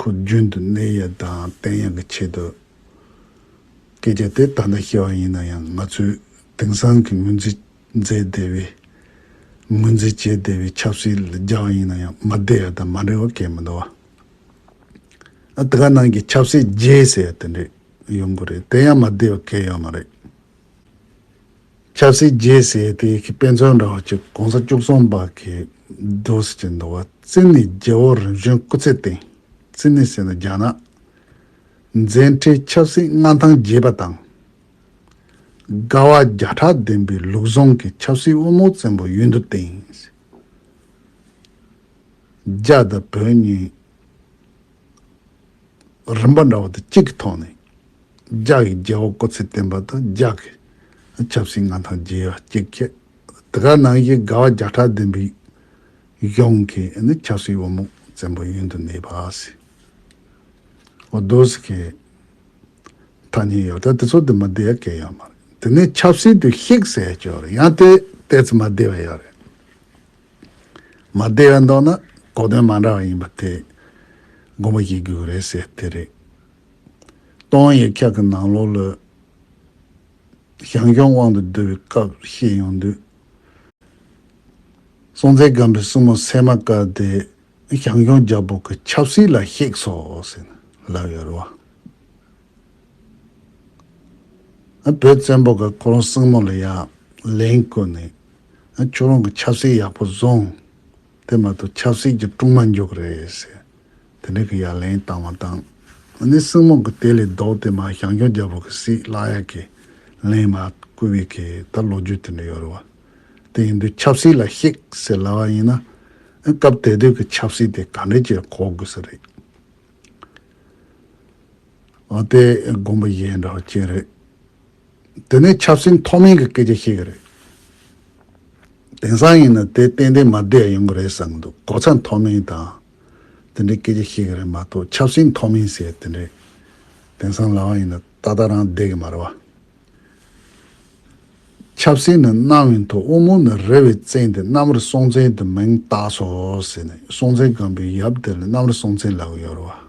ཁོ་རྒྱུན་དུ་གནས་ཡས་དང་བསྟན་ཡས་ཀྱི་ཆེད་དུ་སྐད་ཆ་དེ་ད་ལྟ་ཤེས་པ་ཡིན་ན་ཡང་ང་ཚོས་དེང་སང་གི་ངོས་འཛིན་མཛད་བདེ་བའི་ངོས་འཛིན་བྱེད་བདེ་བའི་ཆབ་སྲིད་ལ་རྒྱ་བ་ཡིན་ན་ཡང་མ་བདེ་བ་དང་མ་འབྲེལ་བ་གས་མི་འདུག་བ། ཨ་ཏི་ཀ་ནང་གི་ཆབ་སྲིད་རྒྱས་ཟེར་བ་དེ་འདྲས་ཡོང་གི་རེད་དེ་ཡང་མ་བདེ་བ་གས་ཡོད་མ་རེད། ཆབ་སྲིད་རྒྱས་སྲས་དེ་གའི་དཔེ་མཚོན་འདྲ་བ་གཅིག་གོང་ས་བཅུ་གསུམ་པ་གའི་རྡོ་ཟེར་གྱི་འདུ་བ་རྩི་ནི་རྒྱལ་བོ་རིམ་བྱོན་སྐུ་ཚེ་སྟེང་རྩི་ནི་ཟེར་ན་རྒྱ་ནག་མཛད་འཕྲིན་ཆབ་སྲིད་མངའ་ཐང་རྒྱས་པ་དང། དགའ་བ་བརྒྱ་ཕྲག་ལྡན་པའི་ལུགས་བཟང་གི་ཆབ་སྲིད་དབུ་མའོ་བཙན་པོ་ཡུན་དུ་བརྟན། རྒྱ་དང་བོད་གཉིས་རིམ་པ་འདྲ་བ་དང་གཅིག་གི་ཐོག་ནས་ལྗགས་ཀྱི་རྒྱལ་བ་ཀོ་ཚེ་བརྟན་པ་དང་ལྗགས་ཀྱི་ཆབ་སྲིད་མངའ་ཐང་རྒྱས་པ་གཅིག་བསྐྱེད། དེ་ག་ནང་བཞིན་དགའ་བ་བརྒྱ་ཕྲག་ལྡན་པའི་གཞུང་གི་ཆབ་སྲིད་དབང་མོ་བཙན་པོ་གཡོན་དུ་གནས་པ། ཨོ་རྡོ་སི་ཁའི་ཐ་སྙད་ཡོད་ད་དེ་ཚོ་དེ་མ་བདེ་བ་གལ་ཡོད་མ་རེད་དེ་ནས་ཆབ་སྲིད་དུ་གཤེགས་སའི་ཆོས་རེད་ཡང་དེ་དེ་ཚོ་མ་བདེ་བ་ཡོད་རེད། མ་བདེ་བའི་མདོག་ནི་གོ་དོན་མ་འདྲ་བ་ཡིན་པ་དེ་སྒོམ་པ་ཞིག་དགོས་གི་རེད་ཟེར་དེ་རེད། སྟོང་ཡེ་འཁྱག་གི་ནང་ལོགས་ལོས། ཞང་སྐྱོང་དབང་དུ་བསྡུ་བའི་སྐབས་བཤད་ཡོང་དུས། སྲོང་བཙན་སྒམ་པོའི་སྲིང་མོ་སད་མ་ཀ་དེ་ཞང་སྐྱོང་རྒྱལ་པོ་གི་ཆབ་སྲིད་ལ་གཤེགས་སོ་ཟེར་ནས་ལབ་ཡོད་རེད་བ། བོད་བཙན་པོ་གི་ཁོ་རང་སྲིང་མོ་ལ་ཡང་ལན་བསྐུར་ནས་ཁྱོད་རང་གི་ཆབ་སྲིད་ཡག་པོ་བཟུང། དེ་མ་གཏོགས་ཆབ་སྲིད་ཀྱི་དཀྲུག་མ་འཇོག་རེད་ཟེར། དེ་འདྲའི་གི་ཡ་ལན་བཏང་མ་བཏང། ཨ་ནི་སྲིང་མོ་གི་དེ་ལས་ལྡོག་སྟེ་མ་ཞང་ཞོགས་རྒྱལ་པོ་གི་སྲིད་བརླག་ཡ་གི་ལན་མ་བསྐུར་བའི་གི་ད་ལོ་རྒྱུས་དེ་འདྲ་ཡོད་རེད་བ། དེ་ཡིན་དུས་ཆབ་སྲིད་ལ་གཤེགས་ཟེར་སླ་བ་ཡིན་ན། སྐབས་དེ་དུས་གི་ཆབ་སྲིད་དེ་ག་འདྲས་ཀྱིས་གོ་དགོས་ས་རེད། ཨོ་དེ་དགོངས་པ་གཞན་འདྲ་བ་ཅི་རེད། དེ་ནི་ཆབ་སྲིད་མཐོ་དམན་གྱི་སྐད་ཆ་ཞིག་རེད། དེང་སང་ཡིན་ན་དེ་ཏན་ཏན་མ་བསྡད་ཡོང་གི་རེད་བསམ་འདུག་གོ་ཚ་མཐོ་དམན་དང་དེ་འདྲའི་སྐད་ཆ་ཞིག་རེད་མ་གཏོགས་ཆབ་སྲིད་མཐོ་དམན་ཟེར་དེ་འདྲའི་དེང་སང་ལའང་ཡིན་ན་ཏག་ཏག་རང་བསྡད་ཀྱི་མ་རེད་བ། ཆབ་སྲིད་ནི་གནའ་བའི་མཐོ་དབུ་མོ་ནས་རེ་བའི་བཙན་དེ་གནམ་རི་སྲོང་བཙན་དུ་མིང་བཏགས་སོ་ཟེར་ནས་སྲོང་བཙན་སྒམ་པོའི་ཡབ་དེ་ལ་གནམ་རི་སྲོང་བཙན་ལབ་ཡོད་རེད་བ།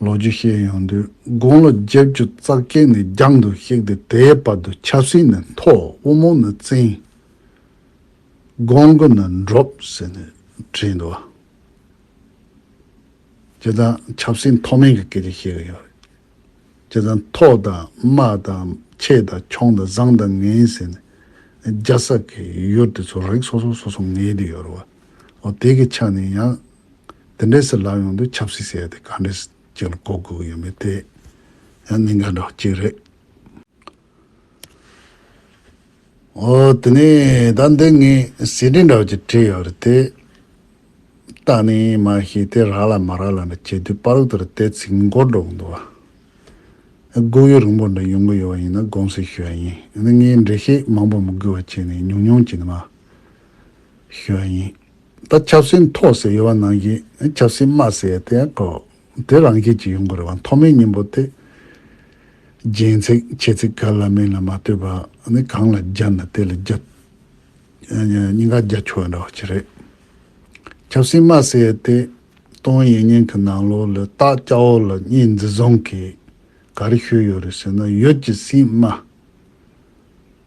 ལོ་རྒྱུས་བཤད་ཡོང་དུས་དགུང་ལོ་བརྒྱད་བཅུ་རྩ་བརྒྱད་ནས་རྒྱང་དུ་གཤེགས་ཏེ་དེའི་བར་དུ་ཆབ་སྲིད་ནི་མཐོ་དབུ་མོ་ནི་བཙན། དགོན་དགུ་ནི་འབྲོག་ཟེར་ནས་བྲིས་འདུག་ཨ། དེ་དང་ཆབ་སྲིད་མཐོ་དམན་གྱི་སྐད་ཆ་བཤད་གི་ཡོད་རེད། དེ་དང་མཐོ་དང་དམའ་དང་ཆེ་དང་ཆུང་དང་བཟང་དང་ངན་ཟེར་ནས་རྒྱ་བསགས་གི་ཡུལ་དེ་ཚོ་རིགས་སོ་སོ་སོ་སོ་ངེས་དུ་ཡོད་རེད་བ། འོ་དེ་གི་ཆ་ནས་ཡང་དེ་འདྲའི་སི་ལ་ཡོང་དུས་ཆབ་སྲིད་བྱས་ཏེ་ག་འདྲའི་ཅིག་ལ་གོ་དགོས་ཀྱི་ཡོད་མེད་དེ་ཡང་གནད་འགག་འདྲ་བོ་གཅིག་རེད། འོ་དེ་ནས་ད་འདི་ངས་ཟིན་བྲིས་འདྲ་བོ་ཅིག་བྲིས་ཡོད་རེད་དེ། བལྟ་ནས་མ་ཤེས་དེ་རག་ལ་མ་རག་ལ་འདྲ་བྱས་དུས་པར་ལུགས་ལྟར་དེ་ཚིག་མགོར་འགྲོ་གི་འདུག་བ། སྒུག་ཡུལ་རིང་པོ་འདྲ་ཡོང་གི་ཡོད་པ་ཡིན་ན་དགོངས་སེལ་ཞུ་བ་ཡིན་ངས་འགྲེལ་བཤད་མང་པོ་མི་དགོས་པ་བྱས་ནས་ཉུང་ཉུང་ཅིག་ནི་མ་ཞུ་བ་ཡིན། ད་ཆབ་སྲིད་མཐོ་ཟེར་ཡོད་བ་ནང་བཞིན་ཆབ་སྲིད་དམའ་ཟེར་དེ་ཀོ་དེ་རང་ཤེད་ཀྱི་ཡོང་དགོས་རེད་བ་མཐོ་དམའི་སྙིང་པོ་དེ། རྒྱན་ཚིག་ཆེ་ཚིག་ག་ལ་མིང་ལ་མ་ལྟོས་པ་ནི་གང་ལ་སྦྱར་ན་དེ་ལ་རྒྱབ་སྙིང་ག་རྒྱ་ཆུ་བ་འདྲ་བ་ཅི་རེད། ཆབ་སྲིད་དམའ་ཟེར་དེ་ཏོང་ཡན་ཉན་གི་ནང་ལོག་ལ་སྟག་སྐྱ་བོ་ལ་གཉིས་འཛི་བཟུང་གིས་ག་རེ་ཤོད་ཡོད་རེད་ཟེར་ན་ཡོད་ཀྱི་སྲིད་དམའ།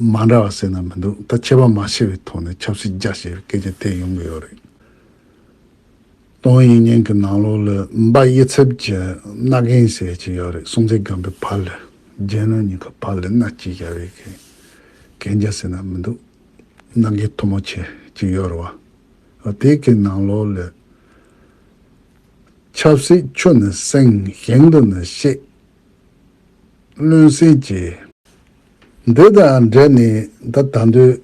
མ་འདྲ་བ་བསོད་ནམས་མི་འདུག་ད་ཁྱད་པར་མ་ཕྱེ་བའི་ཐོག་ནས་ཆབ་སྲིད་རྒྱ་ཞེས་པའི་སྐད་ཆ་དེ་ཡོང་གི་ཡོད་རེད། ཏོང་ཡོན་ཉན་གྱི་ནང་ལོག་ལ་འབའ་དབྱེ་ཚབ་ཀྱི་མནའ་གན་ཟེར་གྱི་ཡོད་རེད་སྲོང་བཙན་སྒམ་པོའི་བར་ལ་རྒྱལ་ནང་གཉིས་ཀ་བར་ལ་མནའ་སྐྱེལ་རྒྱ་རེད་གི་གན་རྒྱ་བསོད་ནམས་མི་འདུག་མནའ་གན་མཐོ་མོ་བྱེད་ཀྱི་ཡོད་རེད་བ། དེ་གི་ནང་ལོག་ལ་ཆབ་སྲིད་ཆུ་ནི་བསྲིངས་ཞིང་དུ་ནི་བཤད། བློན་སེང་གྱིས། འདི་དང་འབྲེལ་ནས་ད་ལྟ་འདོད་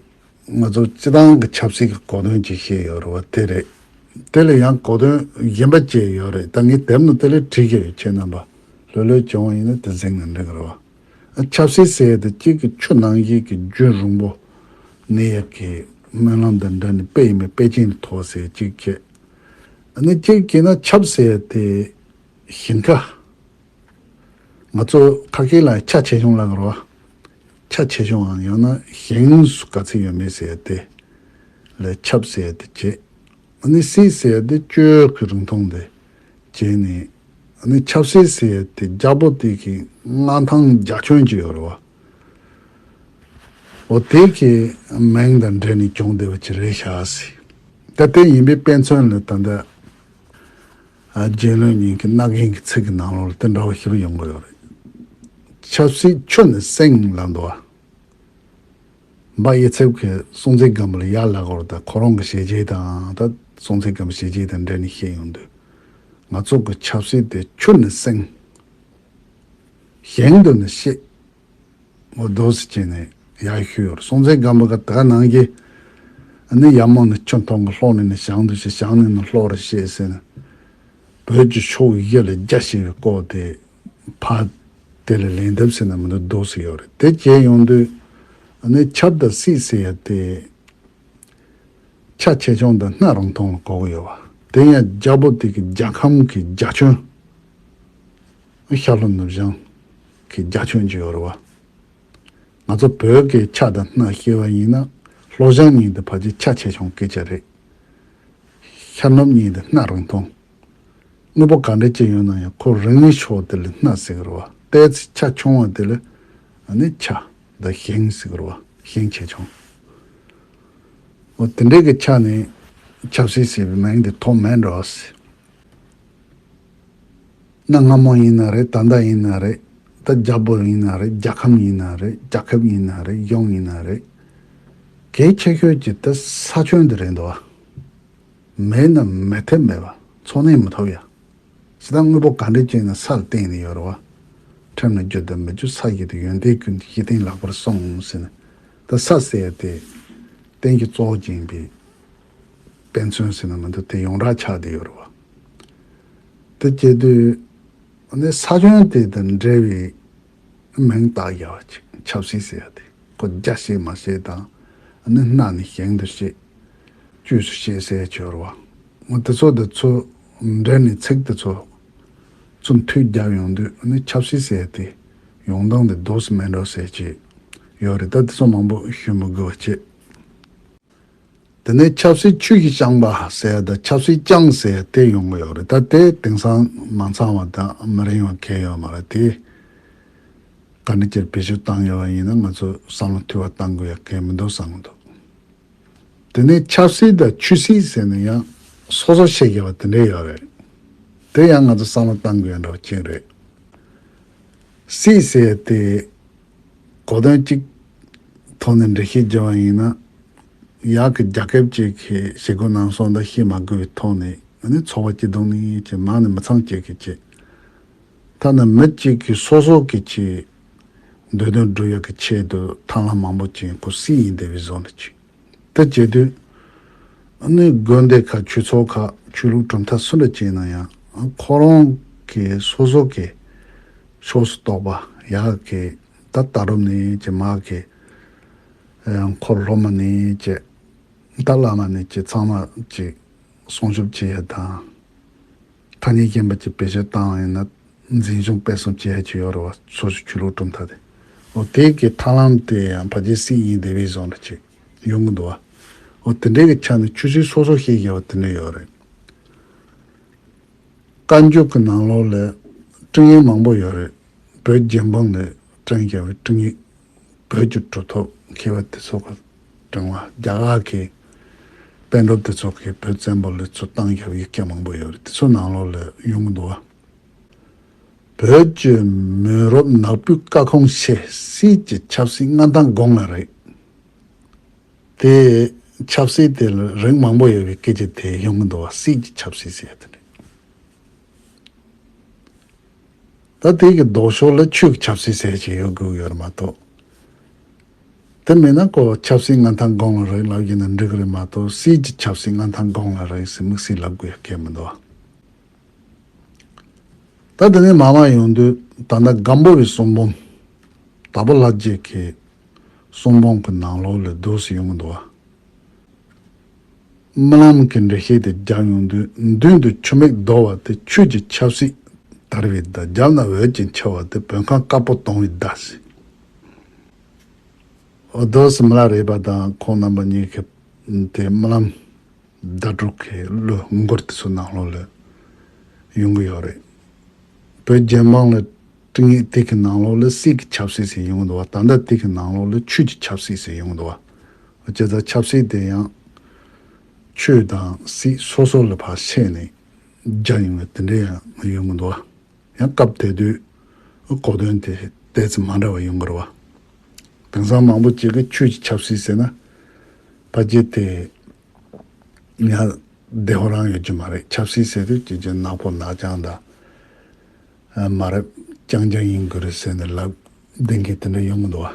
ང་ཚོ་སྤྱི་བཏང་གི་ཆབ་སྲིད་ཀྱི་གོ་དོན་གྱིས་བཤད་ཡོད་རེད་བ་དེ་རེད། དེ་ལ་ཡང་གོ་དོན་གཞན་པ་བཅས་ཡོད་རེད་ད་ངས་དེབ་ནང་དེ་ལས་བྲིས་ཀྱི་ཡོད་ཁྱེད་རྣམ་པ་ལྷོད་ལྷོད་བྱུང་བ་ཡིན་ན་དེ་གཟིགས་ནས་འབྲི་གི་རེད་བ། ཆབ་སྲིད་ཟེར་དུས་གཅིག་གི་ཆུ་ནང་བཞིན་གྱི་རྒྱུན་རིང་པོ་ནས་ཡག་གི་སྨོན་ལམ་དང་འདྲ་ནས་དཔེ་ཡིན་པའི་དཔེ་ཅན་མཐོ་ཟེར་གཅིག་བྱས། ནས་གཅིག་བྱས་ན་ཆབ་ཟེར་དེ་ཞིང་ཁ། ང་ཚོ་ཁ་སྐད་ལ་ཁྱ་ཆེ་ཆུང་ལ་གར་བ། ཁྱ་ཆེ་ཆུང་ཨང་ཡང་ན་གཞན་སུ་ག་ཚད་ཡོད་མེད་ཟེར་ཏེ། ལས་ཁྱབ་ཟེར་ཏེ་བརྗེད། ནི་སྲིད་ཟེར་ཏེ་སྤྱོད་ཀྱི་རིང་ཐུང་དེ་བརྗེད་ནས། ནི་ཁྱབ་སྲིད་ཟེར་ཏེ་རྒྱ་པོ་དེ་གི་མངའ་ཐང་རྒྱ་ཁྱོན་གྱི་ཡོད་རེད་བ། འོ་དེ་གི་མིང་དང་འབྲེལ་ནས་གྱོང་བསྡད་པ་ཅི་རེད་བྱ་སྲིད། ད་དེ་ཡིན་པའི་དཔེ་མཚོན་ལ་ད་ལྟ། རྒྱལ་བློན་གཉིས་ཀྱི་རྣག་གཞན་གྱི་ཚིག་གི་ནང་ལོགས་ལ་དེ་འདྲ་བ་ཞིག་ཡོང་གི་ཡོད་རེད། ཆབ་སྲིད་ཆོས་ནི་སེང་ལ་འདུ་བ། འབའ་ཡེ་ཚེབ་ཀྱི་སྲོང་བཙན་སྒམ་པོ་ལ་ཡར་ལ་གོར་དང་ཁོ་རང་གི་བྱས་རྗེས་དང་ད་སྲོང་བཙན་སྒམ་པོ་བྱས་རྗེས་དང་འབྲེལ་ནས་བཤད་ཡོང་དུས། ང་ཚོ་གི་ཆབ་སྲིད་དེ་ཆོས་ནི་སེང། གཞན་དུ་ནི་ཤེས། ངོ་རྡོ་སི་ཅན་ནས་ཡ་ཤུ་ཡོར་སྲོང་བཙན་སྒམ་པོ་ག་ད་ག་ནང་གི་ནི་ཡ་མོ་ནི་ཁྱོད་ཐོང་གི་ལྷོག་ནི་ནི་ཞང་དུ་ཆེ་ཞང་ནི་ནི་ལྷོག་ར་ཤེས་སེ་ནི་བོད་ཀྱི་ཕྱོགས་བཞི་ལ་རྒྱ་ཞེས་པའི་ཀོག་དེ་ཕ་དེ་ལ་ལེན་ཐབས་སེ་ན་མི་འདུག་རྡོ་སི་ཡོར་རེད་དེ་བྱས་ཡོང་དུས་ནི་ཁྱབ་ད་སི་སེ་ཡ་དེ་ཁྱ་ཆེ་ཆུང་དང་སྣ་རང་ཐོང་ལ་ཀོག་ཡོ་བ་དེ་ཡང་རྒྱ་པོ་དེ་གི་རྒྱ་ཁམ་གི་རྒྱ་ཁྱོན། ཤར་ལྷོ་ནུབ་བྱང་གི་རྒྱ་ཁྱོན་བརྗེ་བར་བ། ང་ཚོ་བོད་སྐད་ཆ་དང་སྣ་ཤེས་བ་ཡིན་ན་ལྷོ་བྱང་གཉིས་འདི་ཕལ་ཆེར་ཆ་ཆེ་ཆུང་སྐད་ཆ་རེད། ཤར་ནུབ་གཉིས་འདི་སྣ་རང་མཐོང། དངོས་པོ་ག་འདྲ་ཅི་ཡོད་ན་ཡང་ཁོ་རང་ཉིད་ཕྱོགས་དེ་ལ་སྣ་ཟེར་གི་རེད་བ། ལྟས་ཚེ་ཆ་ཆུང་བ་དེ་ལ་ནི་ཆ་འདི་ཞེང་ཟེར་གི་རེད་བ། ཞེང་ཆེ་ཆུང། འོ་དེ་འདྲའི་གི་ཆ་ནི་ཆབ་སྲིད་ཟེར་བའི་མིང་དེ་ཐོག་མེད་འགྲོ་བ་སྲིད། གནའ་སྔ་མོ་ཡིན་ན་རེད་ད་ལྟ་ཡིན་ན་རེད་ད་རྒྱ་བོད་ཡིན་ན་རེད་རྒྱ་ཁམས་ཡིན་ན་རེད་རྒྱ་ཁབ་ཡིན་ན་རེད་གཞུང་ཡིན་ན་རེད། གལ་ཆེ་ཤོས་ཀྱི་ད་ས་ཁྱོན་འདི་རེད་འདུག་བ། མེད་ན་མེད་ཐབས་མེད་བ་འཚོ་གནས་མི་ཐུབ་ཡ། ཇི་ལྟར་དངོས་པོ་ག་འདྲས་སྤྱད་ནས་སར་བསྟན་ནས་ཡོད་རེད་བ། ཁྲིམས་ལ་རྒྱུ་དང་མི་རྒྱུ་ས་གཞི་དེ་ཡོན་ཏན་ཀུན་གྱི་གཞི་རྟེན་ལག་པར་སོང་ཟེར་ནས་ད་ས་ཟེར་ཡ་དེ། གཏན་གྱི་གཙོ་བོ་རྒྱན་པའི་དཔེ་མཚོན་ཟེར་ན་མི་འདུག་དེ་ཡོངས་གྲགས་ཆགས་བསྡད་ཡོད་རེད་བ། དེ་སྐྱེ་དུས་ནི་ས་ཁྱོན་དེ་དང་འབྲེལ་བའི་མིང་བཏགས་རྒྱ་བ་ཅིག་ཆབ་སྲིད་ཟེར་ཡ་དེ་ཁོ་རྒྱ་བཤད་མ་བཤད་དང་ནི་སྣ་ནས་ཞིང་དུ་བཤད་དཀྱུས་སུ་བཤད་སའི་སྦྱོར་བ་དེ་ཚོ་དེ་ཚོ་འབྲེལ་ནས་ཚིག་དེ་ཚོ་ཚུར་མཐུད་བརྒྱབ་ཡོང་དུས་ནི་ཆབ་སྲིད་ཟེར་དེ་ཡོང་སྟངས་དེ་རྡོ་སུ་མེད་འགྲོ་ཟེར་གྱི་ཡོད་རེད་ད་དེ་ཚོ་མང་པོ་ཞུ་མི་དགོས་བ་བྱས། དེ་ནས་ཆབ་སྲིད་ཆོས་ཀྱི་བསྐྱངས་པ་ཟེར་དང་ཆབ་སྲིད་བསྐྱངས་ཟེར་དེ་ཡོང་གི་ཡོད་རེད་ད་དེ་དེང་སང་མ་ཚང་བ་དག་མི་རིང་བ་གལ་ཡོད་མ་རེད་དེ། ག་འདྲ་ཁྱེར་བེད་སྤྱོད་བཏང་ཡོད་བ་ཡིན་ན་ང་ཚོས་བསམ་བློ་ཐུ་བ་བཏང་དགོས་ཡ་གལ་མི་འདུག་བསམ་གི་འདུག་དེ་ནས་ཆབ་སྲིད་དང་ཆོས་སྲིད་ཟེར་ནས་ཡང་སོ་སོར་བཤད་དགོས་པ་དེ་འདྲ་ཡོད་རེད་དེ་ཡང་ང་ཚོས་བསམ་བློ་བཏང་དགོས་ཡ་འདྲ་བ་ཁྱེད་རེད། སྲིད་ཟེར་དེ། གོ་དོན་གཅིག་ཐོག་ནས་འགྲེལ་བཤད་བགྱི་བ་ཡིན་ན། གཡག་གི་རྒྱ་སྐད་ཅེས་ཁས་ཞེ་དགུ་ནང་སོག་འདྲ་ཤེས་མ་དགོས་པའི་ཐོག་ནས་ང་ནི་ཚོགས་པ་སྐྱིད་སྡུག་ནི་ཅེས་མང་ནས་མི་ཚང་གཅིག་གིས་བྱེད། ཐ་ན་མི་གཅིག་གིས་སོ་སོ་གིས་བྱེད། འདོད་དོན་སྒྲུབ་ཡག་གི་ཆེད་དུ་ཐང་ལྷ་མང་པོ་ཅན་ཁུ་སིའི་ཡིན་སྡེ་བའི་བཟོ་འདི་བྱེད། དེ་བྱེད་དུས། ནི་དགོན་སྡེ་ཁག་ཆོས་ཚོགས་ཁག་ཆོས་ལུགས་གྲུབ་མཐའ་སུ་འདྲ་བྱས་ན་ཡང་ཁོ་རང་གི་སོ་སོ་གི་ཕྱོགས་སུ་གཏོགས་པ་ཡག་གི་ད་ལྟ་རུ་ནི་ཅེས་མ་གི་འཁོར་སློབ་མ་ནི་ཅེས་ད་བླ་མ་ནི་ཅེས་ཚང་མ་ཅིག་སྲུང་ཤུབས་བྱེད་ཡ་དང། ཐ་སྙད་རྐྱེན་པ་ཀྱི་བེད་སྤྱོད་བཏང་བ་ཡིན་ན་འཛིན་སྐྱོང་སྤེལ་གསུམ་བཅས་ཀྱི་ཡོ་རོབ་བ་སོ་སོའི་ཆོས་ལུགས་གྲུབ་མཐའ་དེ། འོ་དེ་གའི་ཐར་ལམ་དེ་ཡང་བ་རྗེ་སི་ཡིན་དེ་བས་བཟང་རེད་ཅེས་ཡོང་གི་འདུག་བ། འོ་དེ་འདྲའི་གི་ཆ་ནས་ཆོས་སྲིད་སོ་སོ་ཤེས་དགོས་བ་དེ་འདྲ་ཡོད་རེད། བཀའ་འགྱུར་གི་ནང་ལོགས་ལས་སྤྲིང་ཡིག་མང་པོ་ཡོད་རེད། བོད་རྒྱལ་འབངས་ལས་སྤྲིང་རྒྱལ་བའི་སྤྲིང་ཡིག་བོད་ཀྱི་གྲོས་ཐོག་མཁས་པ་དེ་ཚོ་གི་དྲིང་ལ་རྒྱ་གར་གྱི་དཔོན་སྒྲོབ་དེ་ཚོ་གིས་བོད་བཙན་པོ་ལི་ཚོ་བཏང་རྒྱབ་ཡིག་སྐད་མང་པོ་ཡོད་རེད་དེ་ཚོ་ནང་ལོག་ལ་ཡོང་གི་འདུག་བ། བོད་ཀྱི་མི་རོབ་ནག་པོའི་བཀའ་ཁོངས་ཆེ་སྲིད་ཀྱི་ཆབ་སྲིད་མངའ་ཐང་དགོངས་ལ་རེད་དེ། ཆབ་སྲིད་དེ་ལ་རིགས་མང་པོ་ཡོད་པའི་སྐད་ཆ་དེ་ཡོང་གི་འདུག་བ་སྲིད་ཀྱི་ཆབ་སྲིད་ཟེར་ཡོད་དེ་འདྲ། ད་ལྟའི་གི་ལྡོག་ཕྱོགས་ལ་ཆོས་ཀྱི་ཆབ་སྲིད་ཟེར་ཞིག་ཡོད་དགོས་ཡོད་རེད་མ་གཏོགས། དེ་མེད་ན་ཀོ་ཆབ་སྲིད་མངའ་ཐང་དགོངས་ལ་རེག་ལབ་རྒྱུ་ནི་འགྲིག་རེད་མ་གཏོགས་སྲིད་ཀྱི་ཆབ་སྲིད་མངའ་ཐང་དགོངས་ལ་རེག་སྲིད་མིག་སྲིད་ལབ་དགོས་ཡག་གལ་མི་འདུག་ཨ། ད་དེ་ནས་མ་མ་ཡོང་དུས་ད་ནི་སྒམ་པོ་བའི་གསུང་འབུམ། དྭགས་པོ་ལྷ་རྒྱལ་གྱི་གསུང་འབུམ་གྱི་ནང་ལོགས་ལས་བསྡུས་སུ་ཡོང་གི་འདུག་ཨ། རྨི་ལམ་གྱི་འགྲེལ་བཤད་དེ་རྒྱག་མྱོང་དུས་མདུན་དུ་ཆུ་མིག་ལྡོག་བ་དེ་ཆོས་ཀྱི་ཆབ་སྲིད་དར་བའི་ཟླ་རྒྱབ་ན་འོད་ཀྱིས་འཁྱིལ་བ་དེ་བོད་ཁམས་དཀར་པོ་གཏོང་བའི་ཟླ་ཟེར། འོ་དོ་སུ་མི་ལ་རས་པ་དང་ཁོང་རྣམ་པ་གཉིས་ཀྱི་དེ་རྨི་ལམ་ཟླ་དྲུག་གི་གླུ་མགུར་དེ་ཚོ་ནང་ལོག་ལས་ཡོང་གི་ཡོད་རེད། བོད་རྒྱལ་དམངས་ལ་སྤྲིང་ཡིག་དེ་གི་ནང་ལོག་ལས་སྲིད་ཀྱི་ཆབ་སྲིད་ཟེར་ཡོང་གི་འདུག་བ་ད་ལྟ་དེ་གི་ནང་ལོག་ལས་ཆོས་ཀྱི་ཆབ་སྲིད་ཟེར་ཡོང་གི་འདུག་བ་སྤྱི་ཟླ་ཆབ་སྲིད་དེ་ཡང། ཆོས་དང་སྲིད་སོ་སོ་ལ་བར་ཆད་ནས་རྒྱ་ཡོང་བའི་དེ་འདྲའི་ཡང་ཡོད་མི་འདུག་ཨ། ཡང་སྐབས་དེ་དུས་གོ་དོན་དེ་ལྟའི་ཚིག་མ་འདྲ་བ་ཡོང་གི་རེད་བ། དེང་སང་མང་པོ་ཅིག་གིས་ཆོས་ཀྱི་ཆབ་སྲིད་ཟེར་ན། ཕ་རྒྱལ་དེ་ཡང་བདེ་བོ་རང་ཡོད་ཀྱི་མ་རེད་ཆབ་སྲིད་ཟེར་དུས་ཀྱི་ཀྱི་ནག་པོ་ནག་རྐྱང་དང། མ་རབས་རྐྱང་རྐྱང་ཡིན་དགོས་རེད་ཟེར་ནས་ལབ་བདེན་གི་དེ་འདྲ་ཡོང་གི་འདུག་ཨ།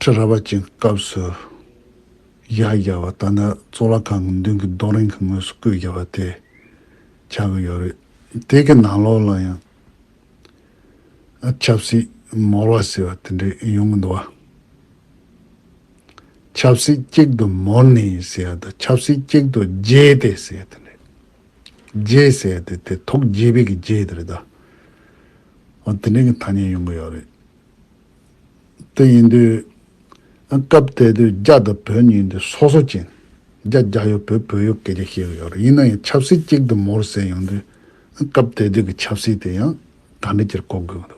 ཁྲི་རལ་པ་ཅན་གྱི་སྐབས་སུ་གཞག་བཞག་བ་ལྟར་ན་གཙུག་ལག་ཁང་གི་མདུན་གྱི་རྡོ་རིང་གི་ངོས་སུ་བརྐོས་བཞག་བ་དེ་ཆགས་ཀྱི་ཡོད་རེད། དེ་གི་ནང་ལོགས་ལ་ཡང་ཆབ་སྲིད་མོར་བ་ཟེར་བ་དེ་འདྲ་ཡོང་གི་འདུག་བ། ཆབ་སྲིད་གཅིག་ཏུ་མོར་ནས་ཟེར་བ་དང་ཆབ་སྲིད་གཅིག་ཏུ་བརྗེས་ཏེ་ཟེར་བ་དེ་འདྲ། བརྗེས་ཟེར་བ་དེ་དེ་ཐོག་བརྗེས་པའི་གི་བརྗེས་དེ་རེད་དོ། འོ་དེ་འདྲའི་གི་ཐ་སྙད་ཡོང་གི་ཡོད་རེད། དེ་ཡིན་དུས། སྐབས་དེ་དུས་རྒྱ་དང་བོད་གཉིས་འདི་སོ་སོ་ཅན། རྒྱ་རྒྱ་ཡོད་བོད་བོད་ཡོད་སྐད་ཆ་བཤད་གི་ཡོད་རེད་ཡིན་ན་ཡང་ཆབ་སྲིད་གཅིག་དུ་མོར་བསྲེས་ཡོང་དུས། སྐབས་དེ་དུས་ཀྱི་ཆབ་སྲིད་དེ་ཡང་ག་འདྲི་ཅིར་གོ་དགོས་ཀྱི་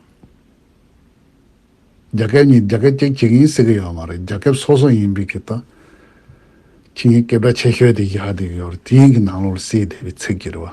འདུག། རྒྱ་སྐད་གཉིས་རྒྱ་སྐད་གཅིག་བྱེད་ཀྱི་ཡིན་ཟེར་གྱི་ཡོད་མ་རེད་རྒྱ་སྐད་སོ་སོ་ཡིན་པའི་ཀྱི་ད། ཕྱི་ཉིན་སྐད་བརྡ་ཆེ་ཤོས་དེ་བཞག་སྡོད་ཀྱི་ཡོད་རེད་དེ་ཡིན་གྱི་ནང་ལོགས་ལ་བསྲེས་བསྡད་པའི་ཚིག་གི་རེད་བ།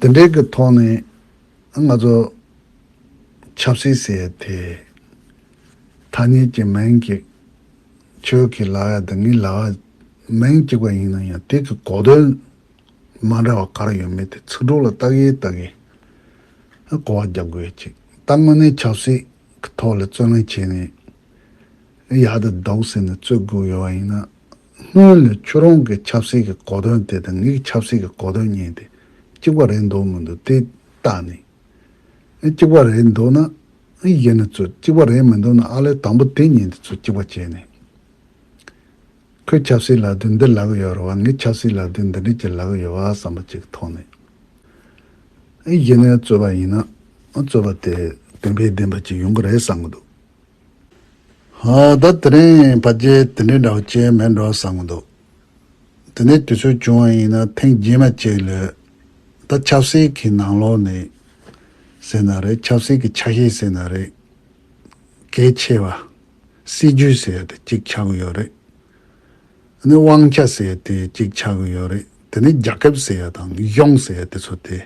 དེ་འབྲེལ་གྱི་ཐོག་ནས་ང་ཚོ་ཆབ་སྲིད་ཟེར་བའི་དེ་ཐ་སྙད་ཀྱི་མིང་གི་ཁྱོད་ཀྱི་ལག་ཡ་དང་ངའི་ལག་ཡ་མིང་གཅིག་པ་ཡིན་ན་ཡང་དེ་གི་གོ་དོན་མ་འདྲ་བ་ག་རེ་ཡོད་མེད་དེ་ཚིག་གྲོགས་ལ་བརྟག་གིན་བརྟག་གིན་གོ་བ་རྒྱབ་དགོས་ཡོད་ཅིག་ད་དངོས་གནས་ཆབ་སྲིད་ཀྱི་ཐོག་ལ་རྩོད་ལེན་བྱས་ནས་ཡག་དེ་འདུག་ཟེར་ནས་རྩོད་དགོས་ཡོད་པ་ཡིན་ན། སྔོན་ལས་ཁྱོད་རང་གི་ཆབ་སྲིད་ཀྱི་གོ་དོན་དེ་དང་ངའི་ཆབ་སྲིད་ཀྱི་གོ་དོན་གཉིས་དེ་གཅིག་པ་རེད་འདོད་མི་འདུག་དེ་ལྟ་ནི། གཅིག་པ་རེད་འདོད་ན། གཞི་ནས་ཚོས་གཅིག་པ་རེད་མི་འདུག་ན་ཨ་ལས་དང་པོ་དེ་གཉིས་དེ་ཚོས་གཅིག་པ་བྱས་ནས། ཁོས་ཆབ་སྲིད་ལག་དུས་འདི་ལག་ཡོད་རུང་བ་ངས་ཆབ་སྲིད་ལག་དུས་འདི་འདྲིས་ཀྱི་ལག་ཡོད་བ་བསམ་པ་གཅིག་ཐོག་ནས། གཞི་ནས་རྩོད་པ་ཡིན་ན་རྩོད་པ་དེ་བདེན་པའི་བདེན་པ་གཅིག་ཡོང་གི་རེད་བསམ་གི་འདུག་ད་དེ་རིང་ཕ་རྗེས་དེ་འདྲའི་འདྲ་བོ་བྱས་མེད་འགྲོ་བསམ་གྱི་འདུག་དེ་ནས་དུས་ཚོད་བྱུང་བ་ཡིན་ན་ཐེངས་རྗེས་མ་གཅིག་ལོས། ད་ཆབ་སྲིད་ཀྱི་ནང་ལོག་ནས་ཟེར་ན་རེད་ཆབ་སྲིད་ཀྱི་ཆ་ཤས་ཟེར་ན་རེད། གལ་ཆེ་བ། སྲིད་ཇུས་ཟེར་དེ་གཅིག་ཆགས་ཀྱི་ཡོད་རེད། ནི་དབང་ཆ་ཟེར་དེ་གཅིག་ཆགས་ཀྱི་ཡོད་རེད་དེ་ནི་རྒྱ་ཁབ་ཟེར་ཡ་དང་གཞུང་ཟེར་དེ་ཚོ་དེ་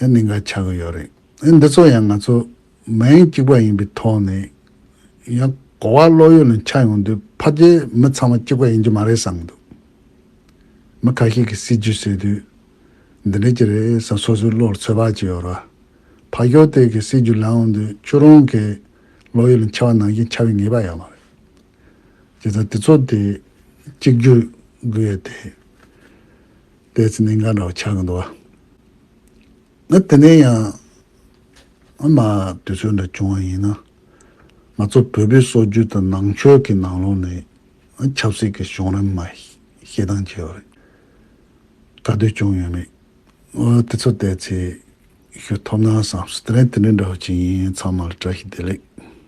ནི་འགའ་ཆགས་ཀྱི་ཡོད་རེད། འདི་ཚོ་ཡང་ང་ཚོ། མན་གཅིག་པ་ཡིན་པའི་ཐོག་ནས་ཡང་གོ་བ་བློ་ཡུལ་ལ་འཆར་ཡོང་དུས་ཕ་རྒྱའི་མི་ཚང་མ་གཅིག་པ་ཡིན་གྱི་མ་རེད་བསམ་འདུག་མི་ཁ་ཤས་ཀྱིས་སྲིད་བྱུས་བཟོས་དུས་འདི་འདྲ་གྱི་རེད་བསམ་སོ་སོའི་བློར་ཚོད་དཔག་བྱས་ཡོད་ར་ཕ་ཞོག་དེ་གའི་སྲིད་བྱུས་ལངས་ཡོང་དུས་ཁྱོད་རང་གི་བློ་ཡུལ་ལ་འཆར་བ་ནང་བཞིན་འཆར་བའི་ངེས་པ་ཡོད་མ་རེད་བྱས་ཙང་དེ་ཚོ་དེ་གཅིག་གྱུར་དགོས་ཡོད་དེ། དེ་ཚོ་ནི་འགའ་འདྲ་བ་འཆར་གི་འདུག་ཨ། ང་དེ་ནས་ཡང་ཨ་མ་དུས་ཚོད་འདྲ་བྱུང་བ་ཡིན་ན། ང་ཚོ་བོད་པའི་སྲོལ་རྒྱུན་དང་ནང་ཆོས་ཀྱི་ནང་ལོགས་ནས་ཆབ་སྲིད་ཀྱི་གཞུང་རིམ་མ་ཤེས་སྟངས་བྱས་པ་རེད། ག་དུས་བྱུང་ཡོད་མེད་དེ་ཚོ་བལྟས་ཚེ་ཞུ་ཐོབ་ན་བསམ། དེ་ནས་དེ་འདྲའི་འདྲ་བ་ཅི་ཡིན་ཚང་མ་ལ་བཀྲ་ཤིས་བདེ་ལེགས།